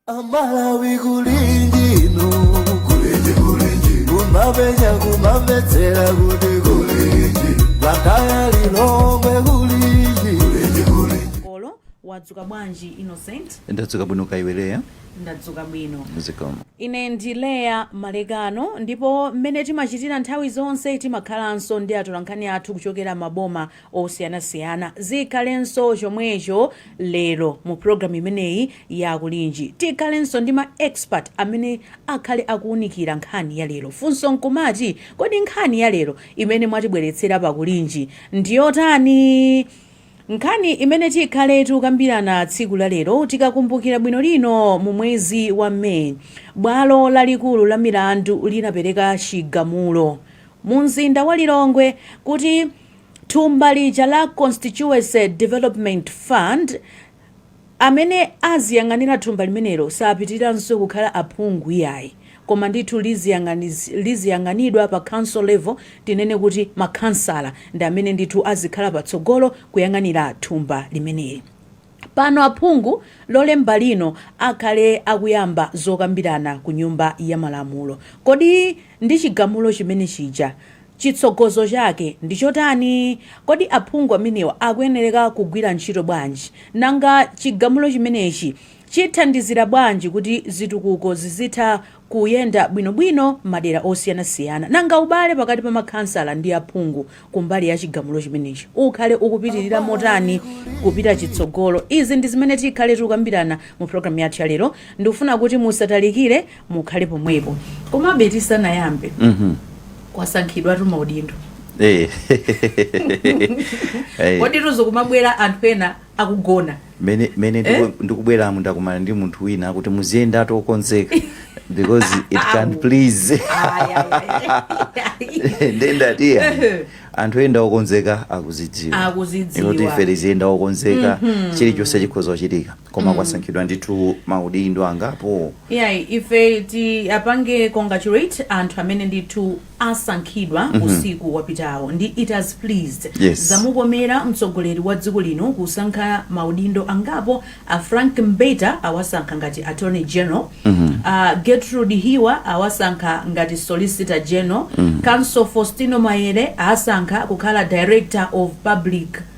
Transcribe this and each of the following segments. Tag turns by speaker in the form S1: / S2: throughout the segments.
S1: Amalawi kuli ndi kulinji kulinji kumapenya kumamvetsera kuti kulinji bwa kaya Lilongwe kulinji kulinji kulinji
S2: olo wadzuka bwanji Innocent ndadzuka bwino kaya iwe Leah
S3: ndadzuka
S2: bwino. zikomo. Ine
S3: ndi Leah
S2: Malekano ndipo mmene timachitira nthawi zonse timakhalanso ndi atolankhani athu kuchokera m'maboma osiyanasiyana. Zikhalenso chomwecho lero mu program imeneyi ya Kulinji. Tikhalenso ndi ma expert amene akhale akuunikira nkhani ya lero. Funso nkumati, kodi nkhani ya lero imene mwatibweretsera pa Kulinji ndi yotani? Nkhani imene tikhale tikukambirana tsiku la lero, Tikakumbukira bwino lino mu mwezi wa May, bwalo lalikulu la milandu linapereka chigamulo mu mzinda wa Lilongwe kuti thumba lija la Constituency Development Fund, Amene aziyang'anira thumba limenelo sapitiriranso kukhala aphungu iyayi, koma ndithu liziyang'anidwa pa council level, tinene kuti makhansala ndi amene ndithu azikhala patsogolo kuyang'anira thumba limeneli. Pano aphungu Lolemba lino akhale akuyamba zokambirana ku nyumba ya malamulo. Kodi. Ndi chigamulo chimene chija, chitsogozo chake ndi chotani? Kodi aphungu amenewa akuyenereka kugwira ntchito bwanji? Nanga chigamulo chimenechi chithandizira bwanji kuti zitukuko zizitha kuyenda bwinobwino m'madera osiyanasiyana? Nanga ubale pakati pa makhansala ndi aphungu kumbali ya chigamulo chimenechi ukhale ukupitirira motani kupita chitsogolo. Izi ndi zimene tikhale tikukambirana mu programme yathu ya lero. Ndikufuna kuti musatalikire mukhale pomwepo. Komabe tisanayambe, Mhm. kwasankhidwatu maudindo. Eh. Eh. Kodi tu izo kumabwera anthu ena akugona. Mene mene Eh?
S3: ndiku- ndikubweramu ndakumana ndi munthu wina akuti muziyendatu okonzeka because it can please nde ndati ya anthu oyenda okonzeka akuzidziwa Akuzidziwa. Kuti ife tiziyenda okonzeka chilichonse chikhoza kuchitika koma kwasankhidwa ndithu maudindo angapo yeah ife
S2: tiwapange congratulate anthu amene ndithu asankhidwa usiku wapitawo ndi it has pleased Yes. zamukomera mtsogoleri wa dziko lino kusankha maudindo angapo a Frank Mbeta awasankha ngati attorney general a Gertrude Hiwa awasankha ngati solicitor general counsel Fostino Maele asankha kukhala director of public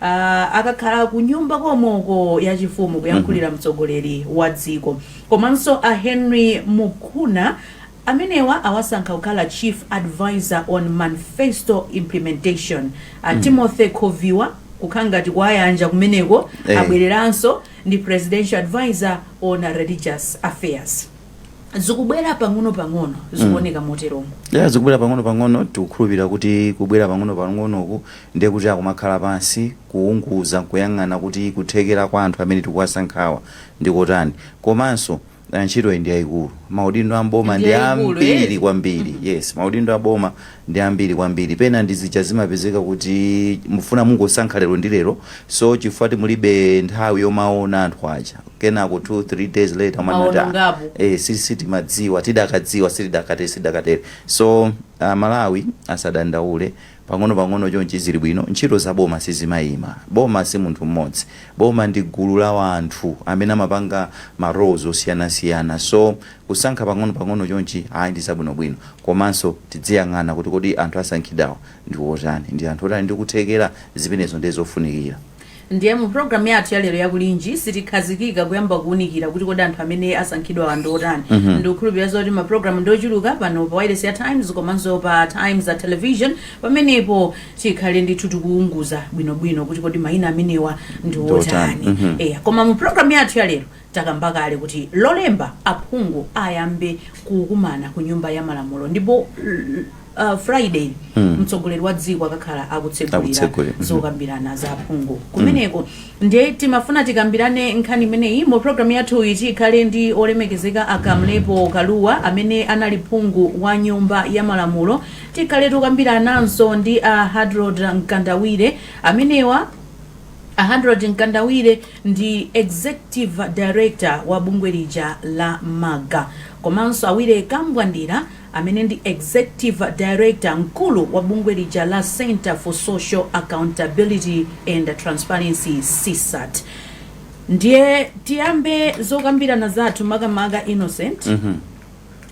S2: Uh, akakhala kunyumba komweuko yachifumu kuyankhulira mm -hmm. mtsogoleri wa dziko komanso a Henry Mukuna amenewa awasankha kukhala chief advisor on manifesto implementation a mm. Timothy Khoviwa kukhala ngati kuwayanja kumeneko hey. Eh. abwereranso ndi presidential advisor on religious affairs zikubwera pang'ono pang'ono zikuoneka mm. moteromo yeah, zikubwera pang'ono
S3: pang'ono tikukhulupirira kuti kubwera pang'ono pang'onoku Ndiye kuti akumakhala pansi, kuunguza n'kuyang'ana kuti kuthekera kwa anthu amene tikuwasankhawa ndi kotani. Komanso ntchitoyi ndi yaikulu. Maudindo a m'boma ndi ambiri kwambiri. Yes, maudindo a boma ndi ambiri kwambiri. Pena ndi zija zimapezeka kuti mufuna mungosankha lero ndi lero. So chifukwa mulibe nthawi yomaona anthu aja. Kenako two, three days later umanena kuti ah, eh sitimadziwa, tidakadziwa sitikadatere, sitikadatere. So a Malawi asadandaule Pang'onopang'ono chonchi zili bwino, ntchito za boma sizimaima. Boma si munthu mmodzi. Boma ndi gulu la wanthu amene amapanga ma roles osiyanasiyana. So, kusankha pang'onopang'ono chonchi ayi ndi zabwinobwino. Komanso tidziyang'ana kuti kodi anthu asankhidwawa ndi otani? Ndi anthu oti ali ndi kuthekera? Zimenezo ndiye zofunikira. Ndiye
S2: mu program yathu ya lero yakulinji sitikhazikika kuyamba kuunikira kuti kodi anthu amene asankhidwawa ndi otani mm -hmm. ndikukhulupirira zoti maprogramu ndi ochuluka pano pa wailesi ya times komanso pa times television pamenepo tikhale ndithu tikuunguza bwinobwino kuti kodi mayina amenewa ndi otani mm -hmm. eya koma mu program yathu ya lero Takamba kale kuti lolemba aphungu ayambe kukumana ku nyumba ya malamulo ndipo uh, friday mm. mtsogoleri wa dziko akakhala akutsegulira mm-hmm. zokambirana za aphungu mm. kumeneko mm. nde timafuna tikambirane nkhani imeneyi mu programu yathuyi tikhale ndi olemekezeka a Kamlepo Kalua amene anali phungu wa nyumba ya malamulo tikhale tokambirananso ndi a Harold Mkandawire amenewa a Harold Mkandawire ndi Executive Director wa bungwe lija la MAGA komanso a Willy Kambwandira amene ndi Executive Director mkulu wa bungwe lija la Centre for Social Accountability and Transparency CSAT. Ndiye tiyambe zokambirana zathu makamaka Innocent.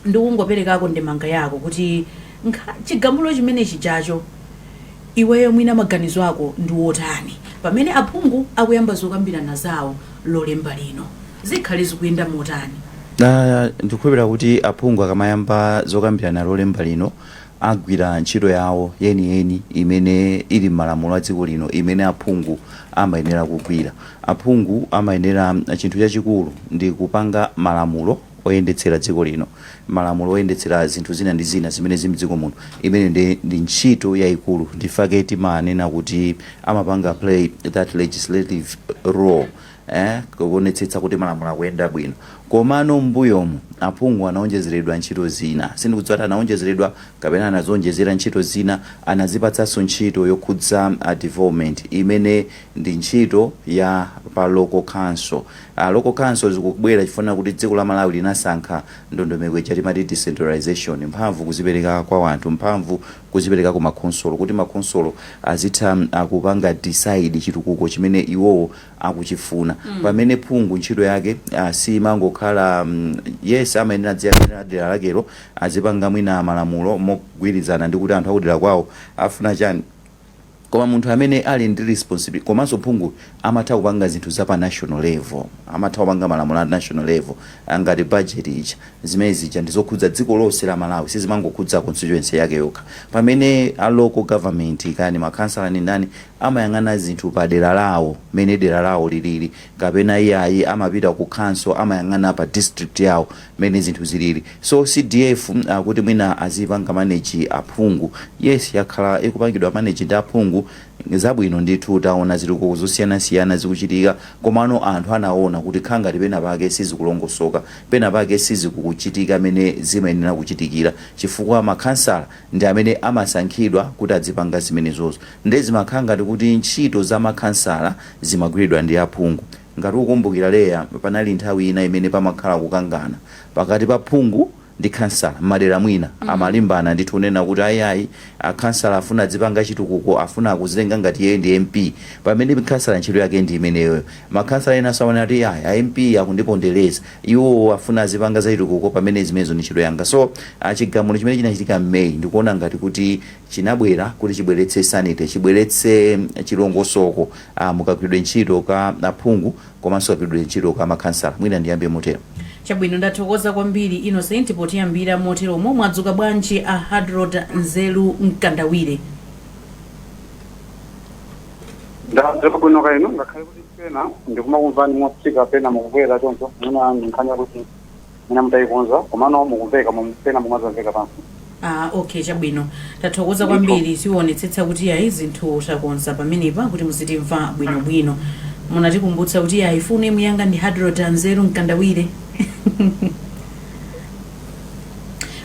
S2: ndikungoperekako ndemanga yako kuti nkha- chigamulo chimene chijacho iweyo mwina maganizo ako ndi wotani pamene aphungu akuyamba zokambirana zawo lolemba lino zikhale zikuyenda motani Ah,
S3: ndikukhulupirira kuti aphungu akamayamba zokambirana lolemba lino agwira ntchito yawo yeniyeni imene ili m'malamulo a dziko lino imene aphungu amayenera kugwira aphungu amayenera chinthu chachikulu ndi kupanga malamulo oyendetsera dziko lino, malamulo oyendetsera zinthu zina ndi zina zimene zili mdziko muno, imeneyo ndiye ndi ntchito yaikulu nchifukwa chake timanena kuti amapanga play that legislative role ee kuonetsetsa kuti malamulo akuyenda bwino komano mmbuyomu aphungu anaonjezeredwa ntchito zina sindikudziwa kuti anaonjezeredwa kapena anazionjezera ntchito zina anazipatsanso ntchito yokhudza development imene ndi ntchito ya pa local council. Local council zikubwera chifukwa kuti dziko la Malawi linasankha ndondomeko ija timati decentralization, mphamvu kuzipereka kwa wanthu, mphamvu kuzipereka ku ma khonsolo kuti ma khonsolo azitha kupanga decide chitukuko chimene iwowo akuchifuna. Pamene phungu ntchito yake siimangokhala yes amayenera adziyang'anira dera lakelo, azipanga mwina malamulo mogwirizana ndi kuti anthu akudera kwawo afuna chani. Koma munthu amene ali ndi responsibility komanso phungu amatha kupanga zinthu za pa national level, amatha kupanga malamulo a national level ngati budget ija. Zimene zija ndi zokhudza dziko lonse la Malawi sizimangokhudza constituency yake yokha. Pamene a local government kaya ndi ma councillor ndi ndani amayang'ana zinthu pa dera lawo mmene dera lawo liliri kapena iyayi amapita ku council amayang'ana pa district yawo mmene zinthu zilili so CDF kuti mwina aziipanga manage aphungu yes yakhala ikupangidwa manage ndi aphungu zabwino ndithu taona zitukuko zosiyanasiyana zikuchitika komano anthu anaona kuti kukhala ngati penapake sizikulongosoka penapake sizikuchitika mmene zimayenera kuchitikira chifukwa makhansala ndi amene amasankhidwa kuti adzipanga zimenezozo nde zimakhala ngati kuti ntchito za makhansala zimagwiridwa ndi aphungu Ngati ukukumbukira Leya, panali nthawi ina imene pamakhala kukangana pakati pa phungu ndi khansala mmadera mwina amalimbana ndithu kunena kuti ayi ayi akhansala afuna adzipanga chitukuko afuna akuzitenga ngati iyeyo ndi MP pamene khansala ntchito yake ndi imeneyoyo. Makhansala enaso amanena kuti ayi a MP akundipondereza iwo afuna azipanga zachitukuko pamene zimenezo ndi ntchito yanga. So chigamulo chimene chinachitika m'May ndikuona ngati kuti chinabwera kuti chibweretse sanity chibweretse chilongosoko. mukagwiridwe ntchito ka aphungu komanso kagwiridwe ntchito ka makhansala. Mwina ndiyambe motero. Chabwino, ndathokoza
S2: kwambiri Innocent potiyambira moteromo. Mwadzuka bwanji a Hadrod Nzeru Mkandawire?
S4: Ndadzuka bwino kaya inu ngakhale kuti pena ndikumakumvani motsika pena mukukwera choncho ndi nkhani yakuti mwina mutaikonza komano mukumveka mom- pena mumazamveka pansi Ah,
S2: okay chabwino tathokoza kwambiri tiwonetsetsa kuti ayi zinthu takonza pamenepa kuti muzitimva bwinobwino munatikumbutsa kuti ayi ifenso timuyankha ndi Hadrod a Nzeru mkandawire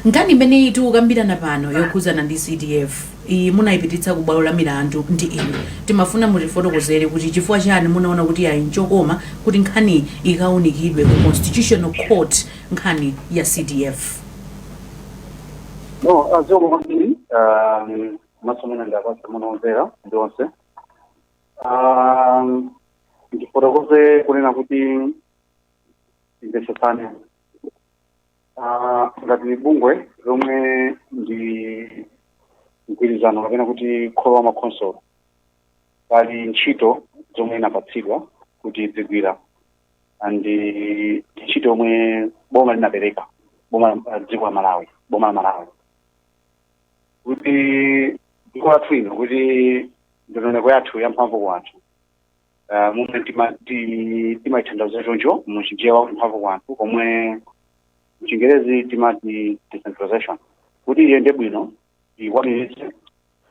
S2: nkhani imene tikukambirana pano yokhudzana ndi cdf iyi munayipititsa ku bwalo la milandu ndi inu. Timafuna mutifotokozere kuti chifukwa chani munaona kuti ayi nchokoma kuti nkhaniyi ikawunikidwe ku Constitutional Court nkhani ya CDF.
S4: No, zikomo kwambiri um, komanso mwina ndapatsa moni omvera onse um, ndifotokoze kunena kuti timvetsetsane Ah, ngati bungwe lomwe ndi mgwirizano kapena kuti kholo la makhonsolo pali ntchito zomwe linapatsidwa kuti lidzigwira and eh, ntchito yomwe boma linapereka boma la dziko la malawi boma la malawi kuti dziko lathu lino kuti ndondomeko yathu yamphamvu kwa anthu Ah, momwe tima- ti- timaitanthauza choncho mu Chichewa kuti mphamvu kwa anthu komwe mchingerezi timati decentralization kuti iyende bwino tikwaniritse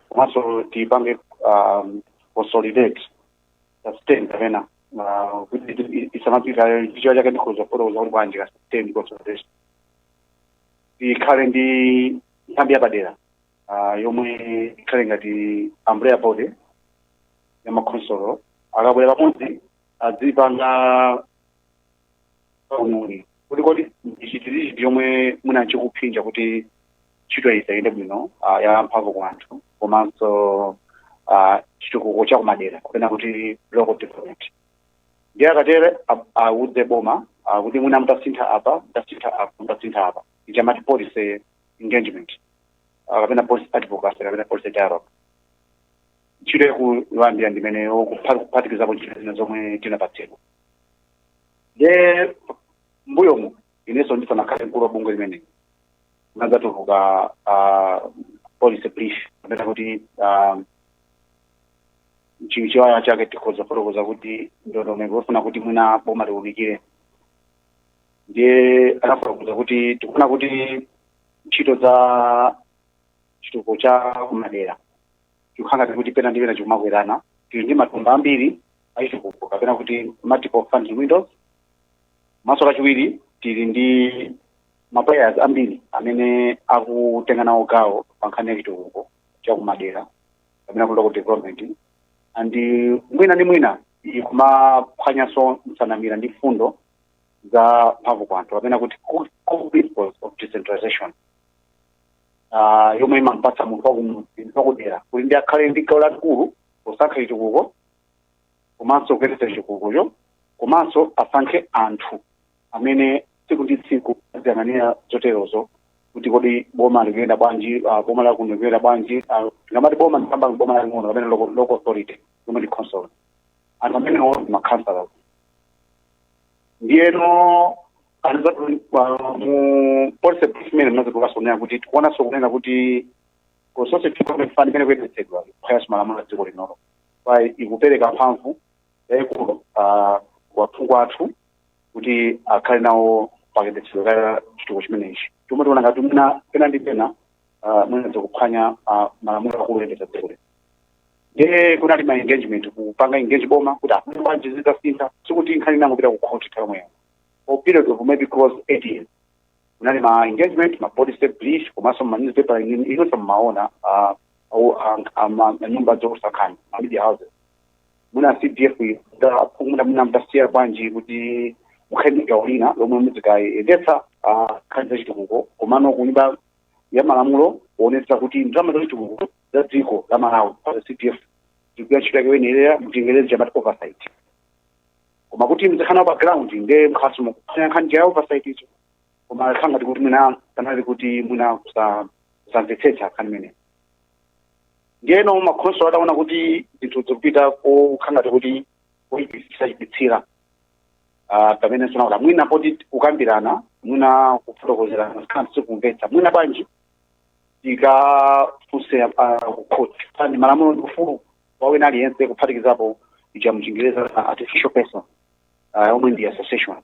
S4: komanso tiipange um, consolidate sustain kapena uh, kuti i- isamapita chichewa chake ndikhoza kufotokoza kuti bwanji ka sustain consolidation tikhale ndi nthambi yapadera ah, yomwe ikhale ngati umbrella body ya makhonsolo akabwera pamodzi adzipanga kauniuni kuti kodi ndi chiti ndi chiti chomwe mwina chikuphinja kuti ntchito iyi isayende bwino ah, ya mphamvu kwa anthu komanso ah, chitukuko cha kumadera kapena kuti local development ndiye akatere ab- awudze boma ah, kuti mwina mutasintha apa mutasintha apa mutasintha apa icha mati policy engagement ah, kapena policy advocacy kapena policy dialogue ntchito yaikulu kwambiri ndi imeneyo kuphatikizapo ntchito zina zomwe tinapatsidwa nde mmbuyomu inenso ndisanakhale mkulu wa bungweli mmene anadzatulutsa ah, policy brief kapena kuti ah, chi- Chichewa chake tikhoza kufotokoza kuti ndondomeko yofuna kuti mwina boma liunikire ndiye anafotokoza kuti tikuona kuti ntchito za chitukuko cha kumadera chikukhala ngati kuti pena ndi pena chikumakwerana tili ndi matumba ambiri achitukuko kapena kuti multiple funding windows komanso kachiwiri tili ndi maplayers ambiri amene akutenga nawo gawo pa nkhani ya chitukuko cha kumadera kapena kuti local development and eh, mwina ndi mwina ikumaphwanyanso msanamira ndi mfundo za mphamvu kwa anthu kapena kuti core- core principles of decentralization Ah, yomwe imampatsa munthu wakumudzi munthu wakudera kuti ndi akhale ndi gawo lalikulu posankha chitukuko komanso kuyendetsa chitukukocho komanso asankhe anthu amene tsiku ndi tsiku aziyang'anira zoterozo kuti kodi boma likuyenda bwanji uh, boma la kuno likuyenda bwanji uh, tikamati boma ndikamba boma laling'ono kapena local, local authority yomwe ndi council anthu amenewo ndi makhansala ndiyeno anthu zatu uh, mu policy brief imene mnazikukaso kunena kuti tikuonanso kunena kuti constituency development fund imene ikuyendetsedwa kuphwanya malamulo a dziko linolo chifukwa ikupereka mphamvu yayikulu uh, kwa aphungu athu kuti akhale nawo pakayendetsedwe ka chitukuko chimenechi chomwe tiona ngati mwina pena ndi pena ah, mwina zikuphwanya ah, malamulo akulu oyendetsa dziko lino ndiye kunali ma engagement kupanga engage boma kuti bwanji zitasintha sikuti nkhani inangopita ku court nthawi yomweyo for period of maybe close to eight years kunali ma engagement ma policy brief komanso ma newspaper inonso mmaona ah, au- ah, ah, ma- ma nyumba zoulutsa nkhani ma media houses muna cdf muna muna mutasiya bwanji kuti mukhale ndi gawo lina lomwe mudzikayendetsa nkhani zachitukuko komano kunyumba ya malamulo kuonetsa kuti ndalama zachitukuko za dziko la malawi pa cdf zikugwira ntchito yake yoyenerera mchingerezi timati oversight koma kuti muzikhala nawo pa ground nde mukhalaso mukuphwanya nkhani ija ya oversight ijo koma khangati kuti mwina kunali kuti mwina kusa- kusamvetsetsa nkhani imene ndiyeno makhonsolo ataona kuti zinthu zikupita kokhangati kuti kuipitsa chiipitsire Ah, pamene tinaona mwina poti kukambirana mwina kufotokozerana sikana sikumvetsa mwina bwanji tikafunse ah, ku court pansi pa malamulo ndi ufulu kwa wina aliyense kuphatikizapo ija mchingerezi uh, artificial person uh, yomwe ndi association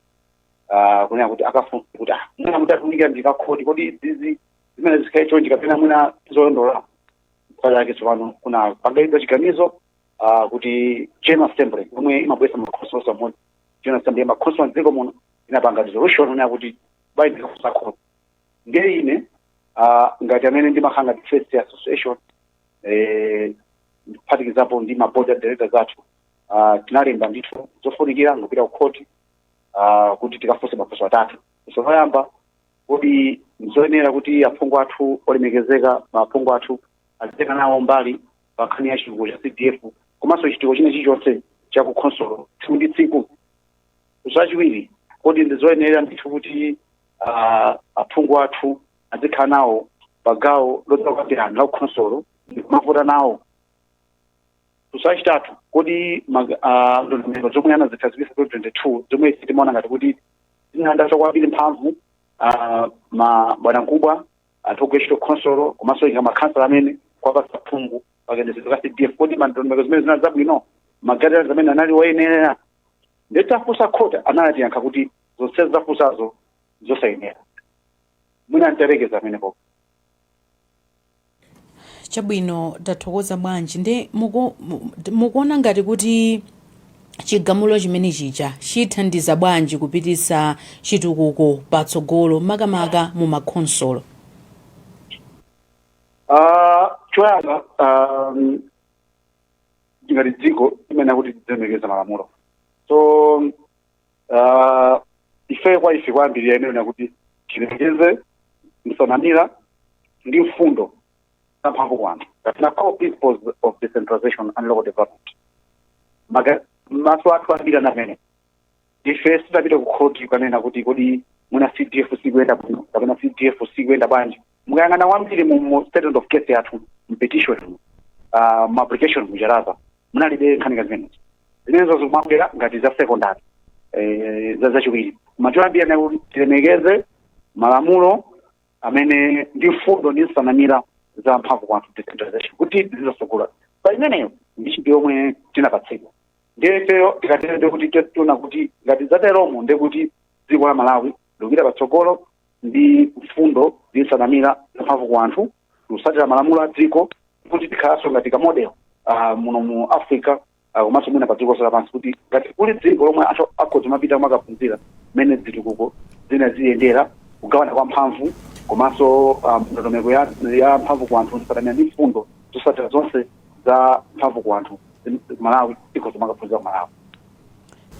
S4: uh, kunena kuti akafunse kuti ah, mwina mutatiunikira ndithu akhoti kodi izizi zimayenera zikhale chonchi kapena mwina zolondola chifukwa chake tsopano kunapangidwa chiganizo uh, kuti general assembly yomwe imabweretsa makhonsolo onse pamodzi general assembly ya makhonsolo a mdziko muno inapanga resolution onena kuti bwanji tikafunse khoti ndiye ine uh, ngati amene ndimakhala ngati face ya association eh, kuphatikizapo ndi ma board of directors athu ah, tinalemba ndithu zofunikira nkupita kukhoti ah, kuti tikafunse mafunso atatu funso loyamba kodi nzoyenera kuti aphungu athu olemekezeka maphungu athu azitenga nawo mbali pa nkhani ya chitukuko cha cdf komanso chitukuko china chilichonse cha ku khonsolo tsiku ndi tsiku funso lachiwiri kodi ndizoyenera ndithu kuti ah, aphungu athu azikhala nawo pa gawo lodzakambirana la kukhonsolo ndi kumavota nawo funso lachitatu kodi mag- ah, ndondomeko zomwe anazikhazikitsa 2022 zomwe ife timaona ngati kuti zinalanda kwambiri mphamvu ah, ma bwanamkubwa anthu ogwira ntchito khonsolo komanso ngati makhansala amene kuwapatsa phungu pakayendetsedwe ka cdf kodi ndondomeko zimenezi zinali zabwino ma guidelines amenewa anali oyenerera nde titafunsa khoti anatiyankha kuti zonse mwafunsazo zosayenera mwina ndilekeze amenepo
S2: chabwino tathokoza bwanji ndi muku- mu- mukuona ngati kuti chigamulo chimenechi chithandiza bwanji kupititsa chitukuko patsogolo makamaka mu
S4: makhonsolo Ah, choyamba um, ngati dziko imene ndi kuti tizilemekeza malamulo so Ah, ife kwa ife kwambiri yonena kuti tilemekeze msanamira ndi mfundo za mphamvu kwa anthu that's core principles of decentralization and local development Maga- maso athu kwambiri mmene ife sitinapite ku khoti kukanena kuti kodi mwina cdf sikuyenda bwino kapena cdf sikuyenda bwanji mukayang'ana kwambiri mu mu statement of case yathu mu petition mu ah, mu application muja mwathu munalibe nkhani ngati zimenezo zimenezo zikumabwera ngati za secondary eh, za zachiwiri koma choyambirira ndi kuti tilemekeze malamulo amenewa ndi mfundo ndi nsanamira za mphamvu kwa anthu decentralization kuti zizitsogolera pa imeneyo ndi ntchito yomwe tinapatsidwa ndiye ifeyo tikatero ndekuti tiona kuti ngati zateromo ndekuti dziko la malawi likupita patsogolo ndi mfundo ndi nsanamira zamphamvu ku anthu kutsatira malamulo a dziko kuti tikhalanso ngati ka model ah, muno mu africa ah, komanso mwina pa dziko lonse lapansi kuti ngati kuli dziko lomwe anthu akhoza kumapita kumakaphunzira mmene zitukuko zimayendera kugawana kwa mphamvu komanso ah, ndondomeko ya, ya mphamvu ku anthu nsanamira ndi mfundo zotsatira zonse za mphamvu ku anthu ku malawi akhoza kumakaphunzira ku malawi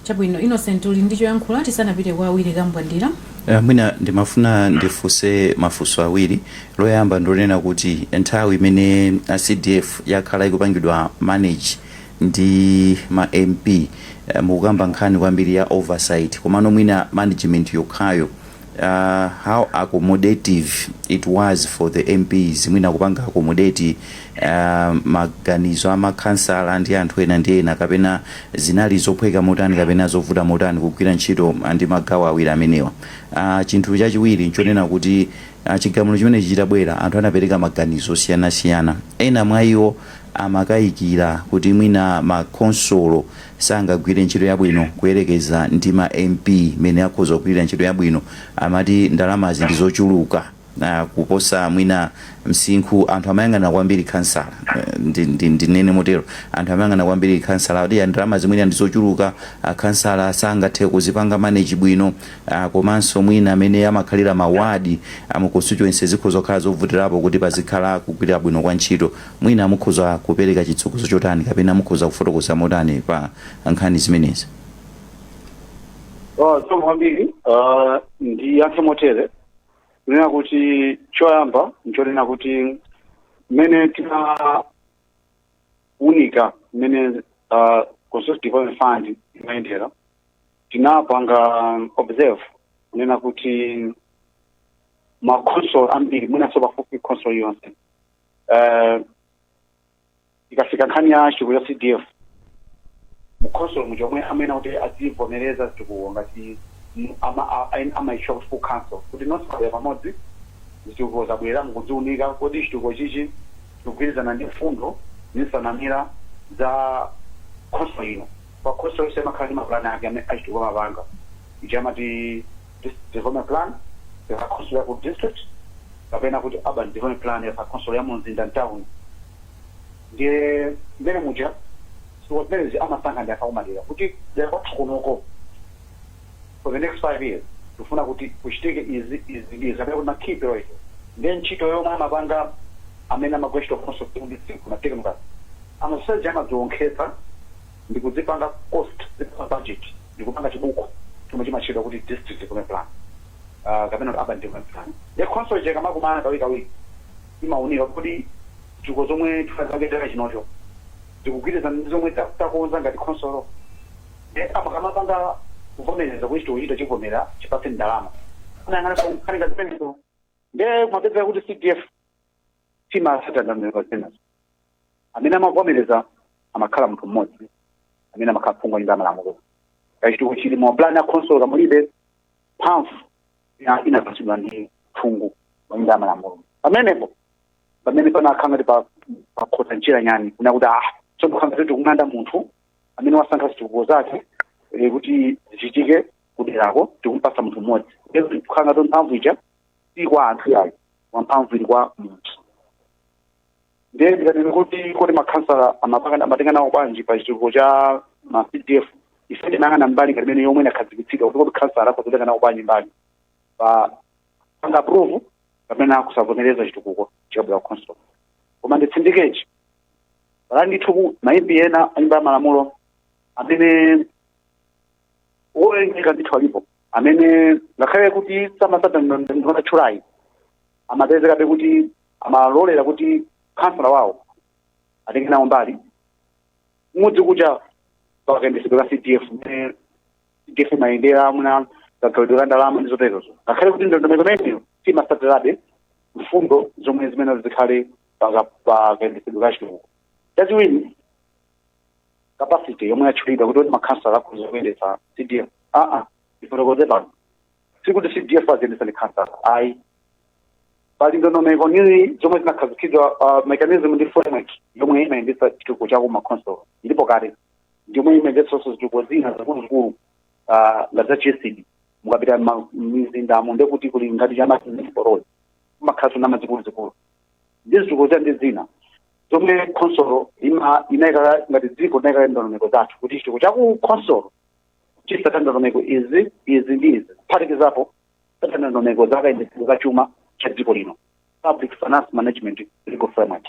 S2: Chabwino Innocent uli ndi choyankhula tisanapite kwa Willy Kambwandira? Eh,
S3: mwina ndimafuna ndifunse mafunso awiri loyamba ndi lonena kuti nthawi imene cdf yakhala ikupangidwa manage ndi ma mp eh, mukukamba nkhani kwambiri ya oversight komano mwina management yokhayo Aaa how accommodative it was for the mps mwina kupanga accommodate aaa maganizo a ma khansala ndi anthu ena ndi ena kapena zinali zophweka motani kapena zovuta motani kugwira ntchito ndi magawo awiri amenewa aah chinthu chachiwiri nchonena kuti aah chigamulo chimenechi chitabwera anthu anapereka maganizo osiyanasiyana ena mwa iwo amakaikira kuti mwina ma khonsolo sangagwire ntchito yabwino kuyerekeza ndi ma MP mene akhoza kugwilira ntchito yabwino amati ndalamazi ndi zochuluka kuposa mwina msinkhu anthu amayang'anira kwambiri khansala ndinene motero anthu amayang'anira kwambiri khansala kuti ndalamazi mwina ndi zochuluka akhansala sangathe kuzipanga manage bwino komanso mwina mene amakhalira ma ward a mu constituency zikhoza kukhala zovutirapo kuti pazikhala kugwirira bwino kwa ntchito Mwina mukhoza kupereka chitsogozo chotani kapena mukhoza kufotokoza motani pa nkhani
S4: zimenezi? Zikomo kwambiri. Ah, ndiyankhe motere kunena kuti choyamba nchonena kuti mmene tinaunika mmene ah, constituency development fund imayendera tinapanga observe kunena kuti makhonsolo ambiri mwinanso pafupifupi khonsolo yonse eh, ikafika nkhani ya chitukuko ya cdf mkhonsolo muja omwe amene kuti adzivomereza chitukuko ngati m- ama- a- a- amatchedwa kuti full council kuti nonse mwabwera pamodzi zitukuko zabwera mukuziunika kodi chitukuko chichi chikugwirizana ndi mfundo ndi nsanamira za khonsolo ino pa khonsolo yonse imakhala ndi mapulani ake amene achitukuko amapanga ichi amati district development plan ya khonsolo ya ku district kapena kuti urban development plan ya khonsolo ya mu mzinda mtown ndiye mmene muja zitukuko zimenezi amasankha ndi anthu akumadera kuti dera kwathu kunoko for the next five years tifuna kuti kuchitike izi izi ndi izi kapena kuti ma key priorities ndiye ntchito yomwe amapanga amene amagwira ntchito khonsolo ya ku district ma technocrats amasoseji amazisonkhetsa ndikuzipanga cost zikhala budget ndikupanga chibuku chomwe chimatchedwa kuti district development plan uh, kapena kuti urban development plan nde khonsolo ija ikamakumana kawirikawiri imaunika kodi zitukuko zomwe tifuna chaka chinocho zikugwirizana ndi zomwe ta- takonza ngati khonsolo nde amakamapanga kuvomereza kuti chitukukochi tachivomera tichipatse ndalama amayang'ana nkhani ngati zimenezo nde kumapezeka kuti cdf simatsata ndondomeko zimenezo amene amavomereza amakhala munthu mmodzi amene amakhala phungu wa nyumba ya malamulo kaya chitukuko chili mu plan ya khonsolo kaya mulibe mphamvu ina- inapatsidwa kwa phungu wa nyumba ya malamulo pamenepo pamene panakhala ngati pa- pakhota njira nyani kunena kuti ah tsono tikukhala ngati tikumana munthu amene wasankha zitukuko zake eh, kuti zichitike kuderako tikumpasa munthu mmodzi kukhala ngati mphamvu ija si kwa anthu yayi koma mphamvuyi ili kwa munthu ndiye ndikatene kuti kodi makhansala amapanga- amatenga nawo bwanji pa chitukuko cha ma cdf ife tinayang'ana mbali ngati imene yomwe inakhazikitsidwa kuti kodi khansala akhoza kutenga nawo bwanji mbali popanga approve kapena kusavomereza chitukuko chikabwera ku council koma nditsindike kuti pali ndithu ma MP ena anyumba ya malamulo amene owerengeka ndithu alipo amene ngakhale kuti samatsata ndatchulayi amapezekabe kuti amalolera kuti khansala wawo atenge nawo mbali m'dziko muja pakayendetsedwe ka cdf mmene cdf imayendera mwina kagawidwe ka ndalama ndi zoterozo ngakhale kuti ndondomeko imeneyo simatsatirabe mfundo zomwe zimayenera zikhale pakayendetsedwe ka chitukuko chachiwiri capacity yomwe yatchulidwa kuti kuti makhansala akhoza kuyendetsa cdf aa ndifotokoze pano sikuti cdf aziyendetsa ndi khansala ayi pali ndondomeko zina zomwe zinakhazikitsidwa uh, mechanism ndi framework yomwe imayendetsa chitukuko cha kuma council ilipo kale ndiyomwe imayendetsanso zitukuko zina zikuluzikulu uh, ngati za GESD mukapita ma- m'mizindamo ndiye kuti kuli ngati cha municipal-yi kumakhalanso na mazikuluzikulu ndi zitukuko za ndi zina zomwe khonsolo ima- inayika ngati dziko inayika ndondomeko zathu kuti chitukuko cha ku khonsolo chitsate ndondomeko izi izi ndi izi kuphatikizapo kutsata ndondomeko za kayendetsedwe ka chuma cha dziko lino public finance management legal framework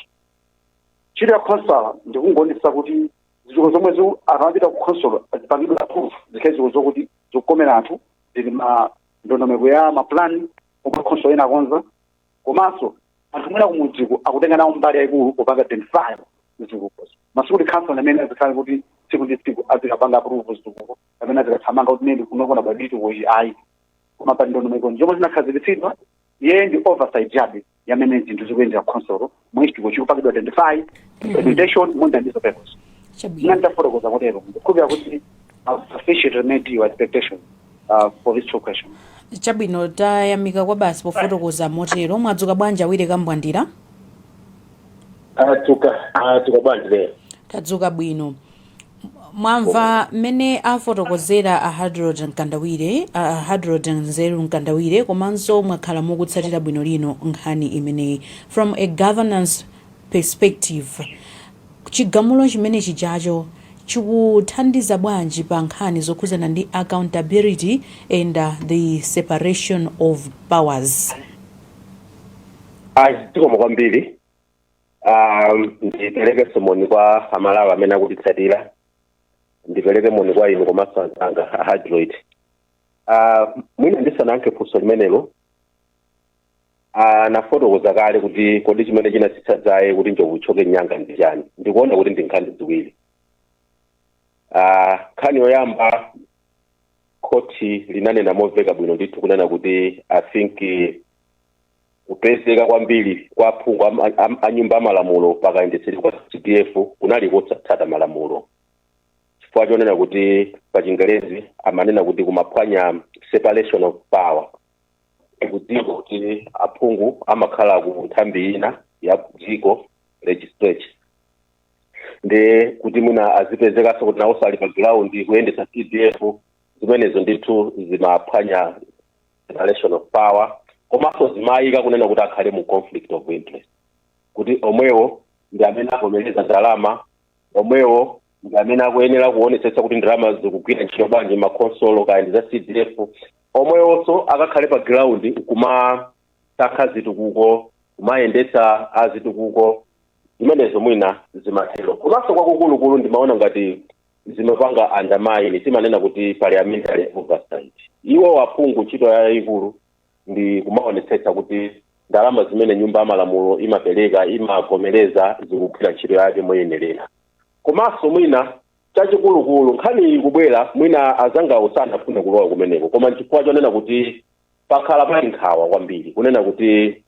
S4: ntchito ya khansala ndi kungoonetsetsa kuti zitukuko zomwe zi- akamapita ku khonsolo zipangidwe approved zikhale zitukuko zokuti zikukomera anthu zili mu ndondomeko ya mapulani omwe khonsolo inakonza komanso anthu mwina kumudziko akutenga nawo mbali yayikulu popanga identify zitukukozo koma sikuti khansala amene azikhale kuti tsiku ndi tsiku azikapanga approve zitukuko amene azikathamanga kuti ndine kuno ndikuona chitukuko ichi ayi koma pa ndondomeko zomwe zinakhazikitsidwa iye ndi oversight chabe ya mmene zinthu zikuyendera ku council mmene chitukuko chikupangidwa identify implementation monga ndizo purpose chabwino ine ndafotokoza kutero ndikukhulupirira kuti sufficiently met your expectation uh, for these two questions.
S2: chabwino tayamika kwabasi pofotokoza motero mwadzuka bwanji a Willy Kambwandira Tadzuka,
S5: mwadzuka bwanji lero. tadzuka bwino
S2: mwamva mmene afotokozera a hadrod mkandawire a hadrod zeru mkandawire komanso mwakhala mukutsatira bwino lino nkhani imeneyi from a governance perspective Chigamulo chimene chijacho chikuthandiza bwanji pa nkhani zokhuzana ndi accountability and the separation of powers?
S5: Ayi zikomo kwambiri um, ndiperekenso moni kwa amalawi amene akutitsatira ndipereke moni kwa inu komanso anzanga a hydroid uh, mwina ndisanayankhe funso limenelo anafotokoza kale kuti kodi chimene chinatsitsa dzaye kuti njovu ithyoke mnyanga ndi chani ndikuona kuti ndi nkhani ziwiri Ah, nkhani yoyamba khoti linanena momveka bwino ndithu kunena kuti i think eh, kupezeka kwambiri kwa aphungu am- am- a nyumba amalamulo pakayendetsedwe kwa cdf kunali kosatsata malamulo chifukwa chonena kuti pa chingerezi amanena kuti kumaphwanya separation of power tikudziwa kuti aphungu amakhala ku nthambi ina ya dziko legislature ndiye kuti mwina azipezekanso kuti nawonso ali pa ground kuyendetsa cdf zimenezo ndithu zimaphwanya separation of power komanso zimayika kunena kuti akhale mu conflict of interest kuti omwewo ndi amene avomereza ndalama omwewo ndi amene akuyenera kuonetsetsa kuti ndalama zikugwira ntchito bwanji m'makhonsolo kaya ndi za cdf omwewonso akakhale pa ground nkumasankha zitukuko kumayendetsa a zitukuko zimenezo mwina zimatero komanso kwakukulukulu ndimaona ngati zimapanga undermine timanena kuti parliamentary oversight iwo aphungu ntchito yayikulu ndi kumaonetsetsa kuti ndalama zimene nyumba ya malamulo imapereka imavomereza zikugwira ntchito yake moyenerera komanso mwina Chachikulukulu, nkhaniyi ikubwera mwina anzangawo sanafune kulowa kumeneko koma nchifukwa chonena kuti pakhala pali nkhawa kwambiri kunena kuti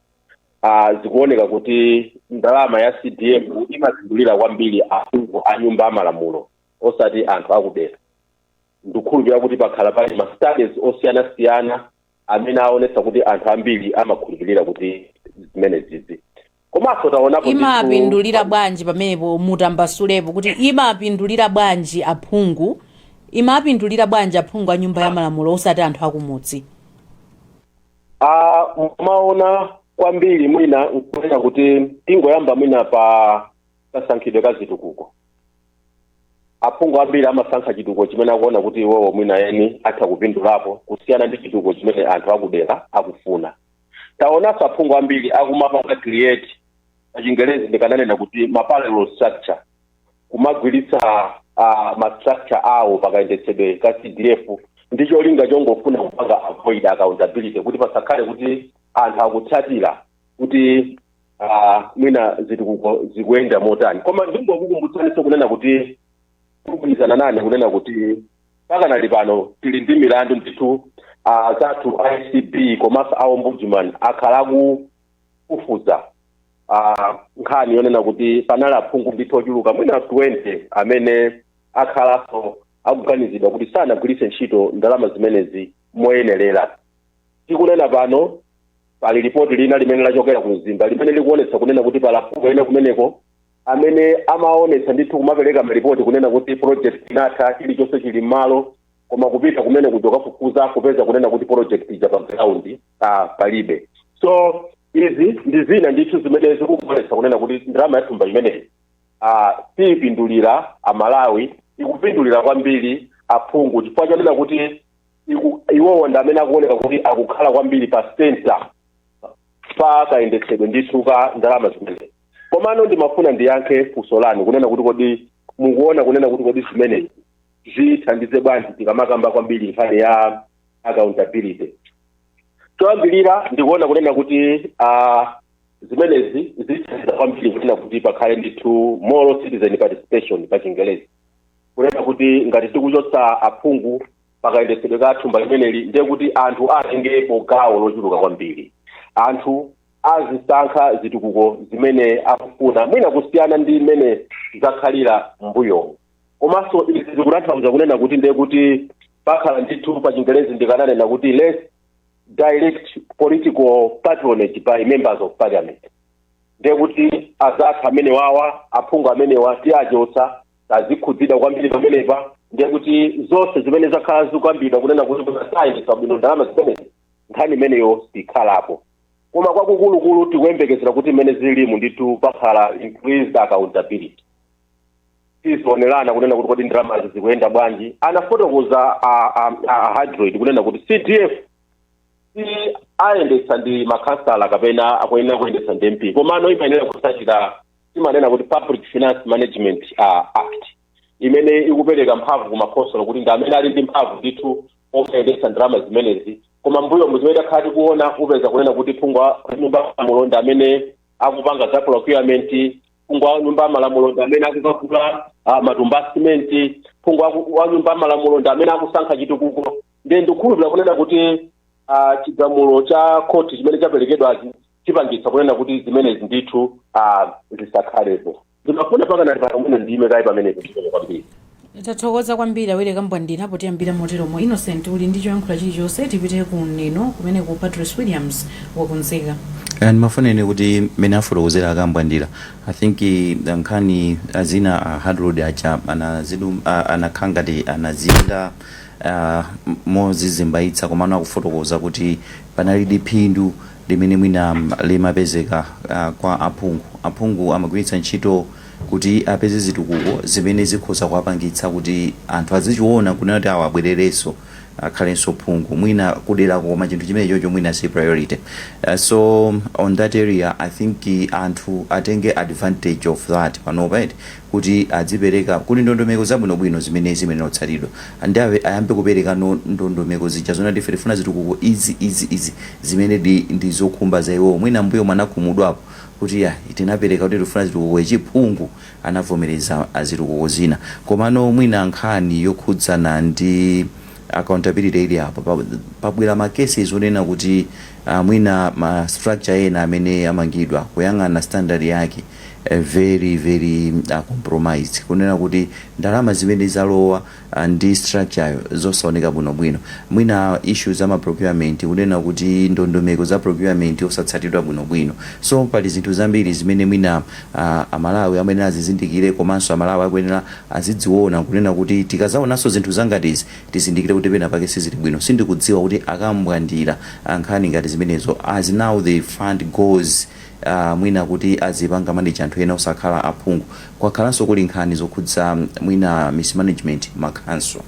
S5: ah, zikuoneka kuti ndalama ya CDF imapindulira kwambiri aphungu a nyumba ya malamulo osati anthu akudera. Ndikukhulupirira kuti pakhala pali ma studies osiyanasiyana amene aonetsa kuti anthu ambiri amakhulupirira kuti zimenezizi komanso taonapo ndithu-
S2: imapindulira bwanji pamenepo mutambasulepo kuti imapindulira bwanji aphungu imapindulira bwanji aphungu a nyumba ya malamulo osati anthu akumudzi Ah, mumaona
S5: kwambiri mwina nkunena kuti tingoyamba mwina pa kasankhidwe ka zitukuko aphungu ambiri amasankha chitukuko chimene akuona kuti iwowo mwina eni atha kupindulapo kusiyana ndi chitukuko chimene anthu akudera akufuna taonanso aphungu ambiri akumapanga create pachingerezi ndikananena kuti ma parallel structure kumagwiritsa uh, ma structure awo pakayendetsedwe ka cdf ndi cholinga chongofuna kupanga avoid accountability kuti pasakhale kuti anthu akutsatira kuti uh, mwina zitukuko zikuyenda motani koma ndingokukumbutsanso kunena kuti mugwirizana nane kunena kuti pakanali pano tili ndi milandu ndithu uh, zathu a ACB komanso a ombudsman akhala akufufuza uh, nkhani yonena kuti panali aphungu ndithu ochuluka mwina 20 amene akhalanso akuganizidwa kuti sanagwiritse ntchito ndalama zimenezi moyenerera Tikunena pano, pali lipoti lina limene lachokera ku Mzimba limene likuonetsa kunena kuti pali aphungu ena kumeneko amene amaonetsa ndithu kumapereka malipoti kunena kuti project inatha, chilichonse chili m'malo, koma kupita kumene kuja kokafufuza kupeza kunena kuti project ija pa ground ah, palibe. So izi ndi zina ndithu zimene zikuonetsa kunena kuti ndalama ya thumba imeneyi ah, siipindulira Amalawi, ikupindulira kwambiri aphungu chifukwa chonena kuti iku- iwowo ndi amene akuoneka kuti akukhala kwambiri pa center pa kayendetsedwe ndithu ka ndalama zimenezi komano ndimafuna ndiyankhe funso lanu kunena kuti kodi mukuona kunena kuti kodi zimenezi zithandize bwanji tikamakamba kwambiri nkhani ya accountability choyambirira ndikuona kunena kuti ah, zimenezi zithandiza kwambiri kunena kuti pakhale ndithu more citizen participation pa chingelezi kunena kuti ngati tikuchotsa aphungu pakayendetsedwe ka thumba limeneli ndiye kuti anthu atengepo gawo lochuluka kwambiri anthu azisankha zitukuko zimene akufuna mwina kusiyana ndi mmene zakhalira m'mbuyomu komanso izi zikutanthauza kunena kuti ndiye kuti pakhala ndithu pa chingerezi ndikananena kuti less direct political patronage by members of parliament ndiye kuti azathu amenewawa aphungu amenewa tiachotsa sazikhudzidwa kwambiri pamenepa ndiye kuti zonse zimene zakhala zikukambidwa kunena kuti kusayendetsa bwino ndalama zimenezi nkhani imeneyo sikhalapo koma kwakukulukulu tikuyembekezera kuti mmene zilimu ndithu pakhala increased accountability tizionerana kunena kuti kodi ndalamazi zikuyenda bwanji anafotokoza a- a- a- a hydroid kunena kuti cdf siayendetsa ndi makhansala kapena akuyenera kuyendetsa ndi mp komano imayenera kutsatira timanena kuti public finance management uh, act imene ikupereka mphamvu ku makhonsolo kuti ndi amene ali ndi mphamvu ndithu oyendetsa ndalama zimenezi koma mbuyomu zimene takhala tikuona upeza kunena kuti phungu wa nyumba ya malamulo ndi amene akupanga za procurement phungu wa nyumba ya malamulo ndi amene akukagula uh, matumba a simenti phungu waku- wa nyumba ya malamulo ndi amene akusankha chitukuko ndiye ndikukhulupirira kunena kuti uh, chigamulo cha khoti chimene chaperekedwachi chipangitsa kunena kuti zimenezi ndithu ah, zisakhalepo zimafuna pakanati pakamuna ndime kaye pamenepo chimene kwambiri
S2: tathokoza kwambiri awiri kambwandira potiyambira moteromo Innocent uli ndi choyankhula chilichonse tipite ku Neno kumene ku Patrice Williams wakunzika Eh, ndimafuna
S3: ine kuti mmene afotokozera a Kambwandira i think eh, nkhani ah, zina a hard road acha anazidum ah, anakhala ngati anazinda ah, m- mozizimbayitsa komano akufotokoza kuti panalidi phindu limene mwina limapezeka kwa aphungu. Aphungu amagwiritsa ntchito kuti apeze zitukuko zimene zikhoza kuwapangitsa kuti anthu azichiona kunena kuti awa abwererenso akhalenso phungu. Mwina kudera koma chinthu chimene chocho mwina si priority. So on that area I think anthu atenge advantage of that panopa eti. kuti azipereka, kuti ndondomeko zabwinobwino zimene zimayenera kutsatidwa and awe ayambe kuperekano ndondomeko zija zoona kuti ife tifuna zitukuko izi, izi, izi zimenedi ndi zokhumba za iwowo. Mwina m'mbuyomu anakhumudwapo kuti yayi tinapereka kuti tikufuna zitukuko ichi phungu anavomereza a zitukuko zina komano mwina nkhani yokhudzana ndi accountability ili apo pabwera ma cases onena kuti a mwina ma structure ena amene amangidwa kuyang'ana standard yake very very compromised kunena kuti ndalama zimene zalowa ndi structure yo zosaoneka bwinobwino mwina issue za ma procurement kunena kuti ndondomeko za procurement osatsatidwa bwinobwino so pali zinthu zambiri zimene mwina a Malawi amayenera azizindikire komanso a Malawi akuyenera azizione kunena kuti tikazaonanso zinthu zangati izi tizindikire kuti pena pake sizili bwino sindikudziwa kuti a Kambwandira nkhani ngati zimenezo as now the fund goes aah mwina kuti azipanga manage anthu ena osakhala aphungu. Kwakhalanso kuli nkhani zokhudza mwina mismanagement mma council.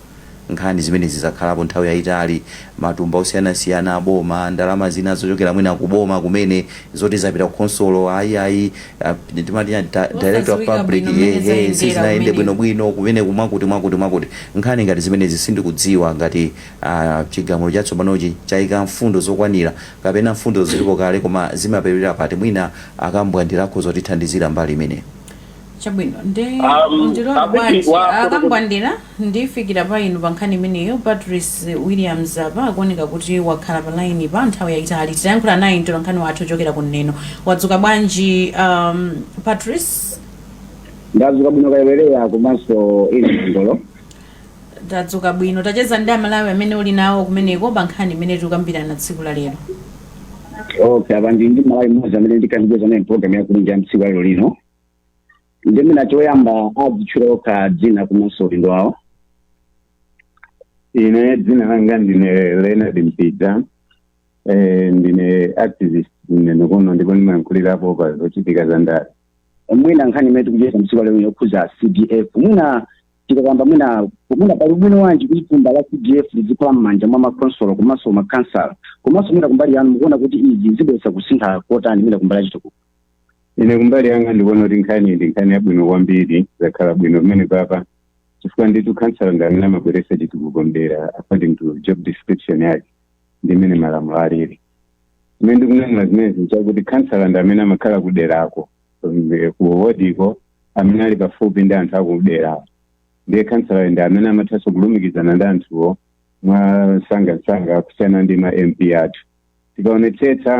S3: Nkhani zimenezi zakhalapo nthawi yayitali, matumba osiyanasiyana aboma, ndalama zina zochokera mwina kuboma kumene zoti zapita kukhonsolo ayi aah timati chani ta director of public sizinayende bwinobwino kumeneku mwakuti mwakuti. Nkhani ngati zimenezi sindikudziwa ngati aah chigamulo chatsopanochi chayika mfundo zokwanira kapena mfundozo zilipo kale koma zimaperewera pati mwina a Kambwandira akhoza kutithandizira mbali imeneyo. Chabwino
S2: nde Um, mundilole abiti bwanji wa- a Kambwandira ndifikira pa inu pa nkhani imeneyo Patrice Williams apa akuoneka kuti wakhala pa line pa nthawi yayitali titayankhula naye mtolankhani wathu wochokera ku Neno wadzuka bwanji um, Patrice
S6: ndadzuka bwino kayewereya komanso ili mndolo
S2: Tadzuka bwino. Tacheza ndi Amalawi amene ali nawo kumeneko pa nkhani imene tikukambirana tsiku la lero.
S6: Okay, apa ndi ndi Mmalawi mmodzi amene ndikucheza naye mprogram ya kulunja ya mtsiku lero lino. Ndi mwina choyamba adzitchula okha dzina komanso udindo
S7: wawo. Ine dzina langa ndine Leonard Mpidza. Eh, ndine activist ku Neno kuno ndipo ndimayankhulirapo pa zochitika za ndale. Mwina nkhani
S6: imene tikucheza mtsiku lero lino yokhudza CDF. Mwina tikakamba mwina mwina pali ubwino wanji kuti thumba la cdf lizikhala m'manja mwa makonsolo komanso makhansala komanso mwina kumbali yanu mukuona kuti izi zibweretsa kusintha kotani mwina kumbali yachitukuko ine kumbali
S7: yanga ndikuona kuti nkhani ndi nkhani yabwino kwambiri zakhala bwino pamene papa chifukwa nditu khansala ndi amene amabweretsa chitukuko mdera according to job description yake ndi imene malamulo alili chimene ndikunenera zimenezi nchakuti khansala ndi amene amakhala kuderako eh, ku wodiko amene ali pafupi ndi anthu akuderawo ndiye khansala ndi amene amathanso kulumikizana ndi anthuwo mwa nsangansanga kusiyana ndi ma mp athu tikaonetsetsa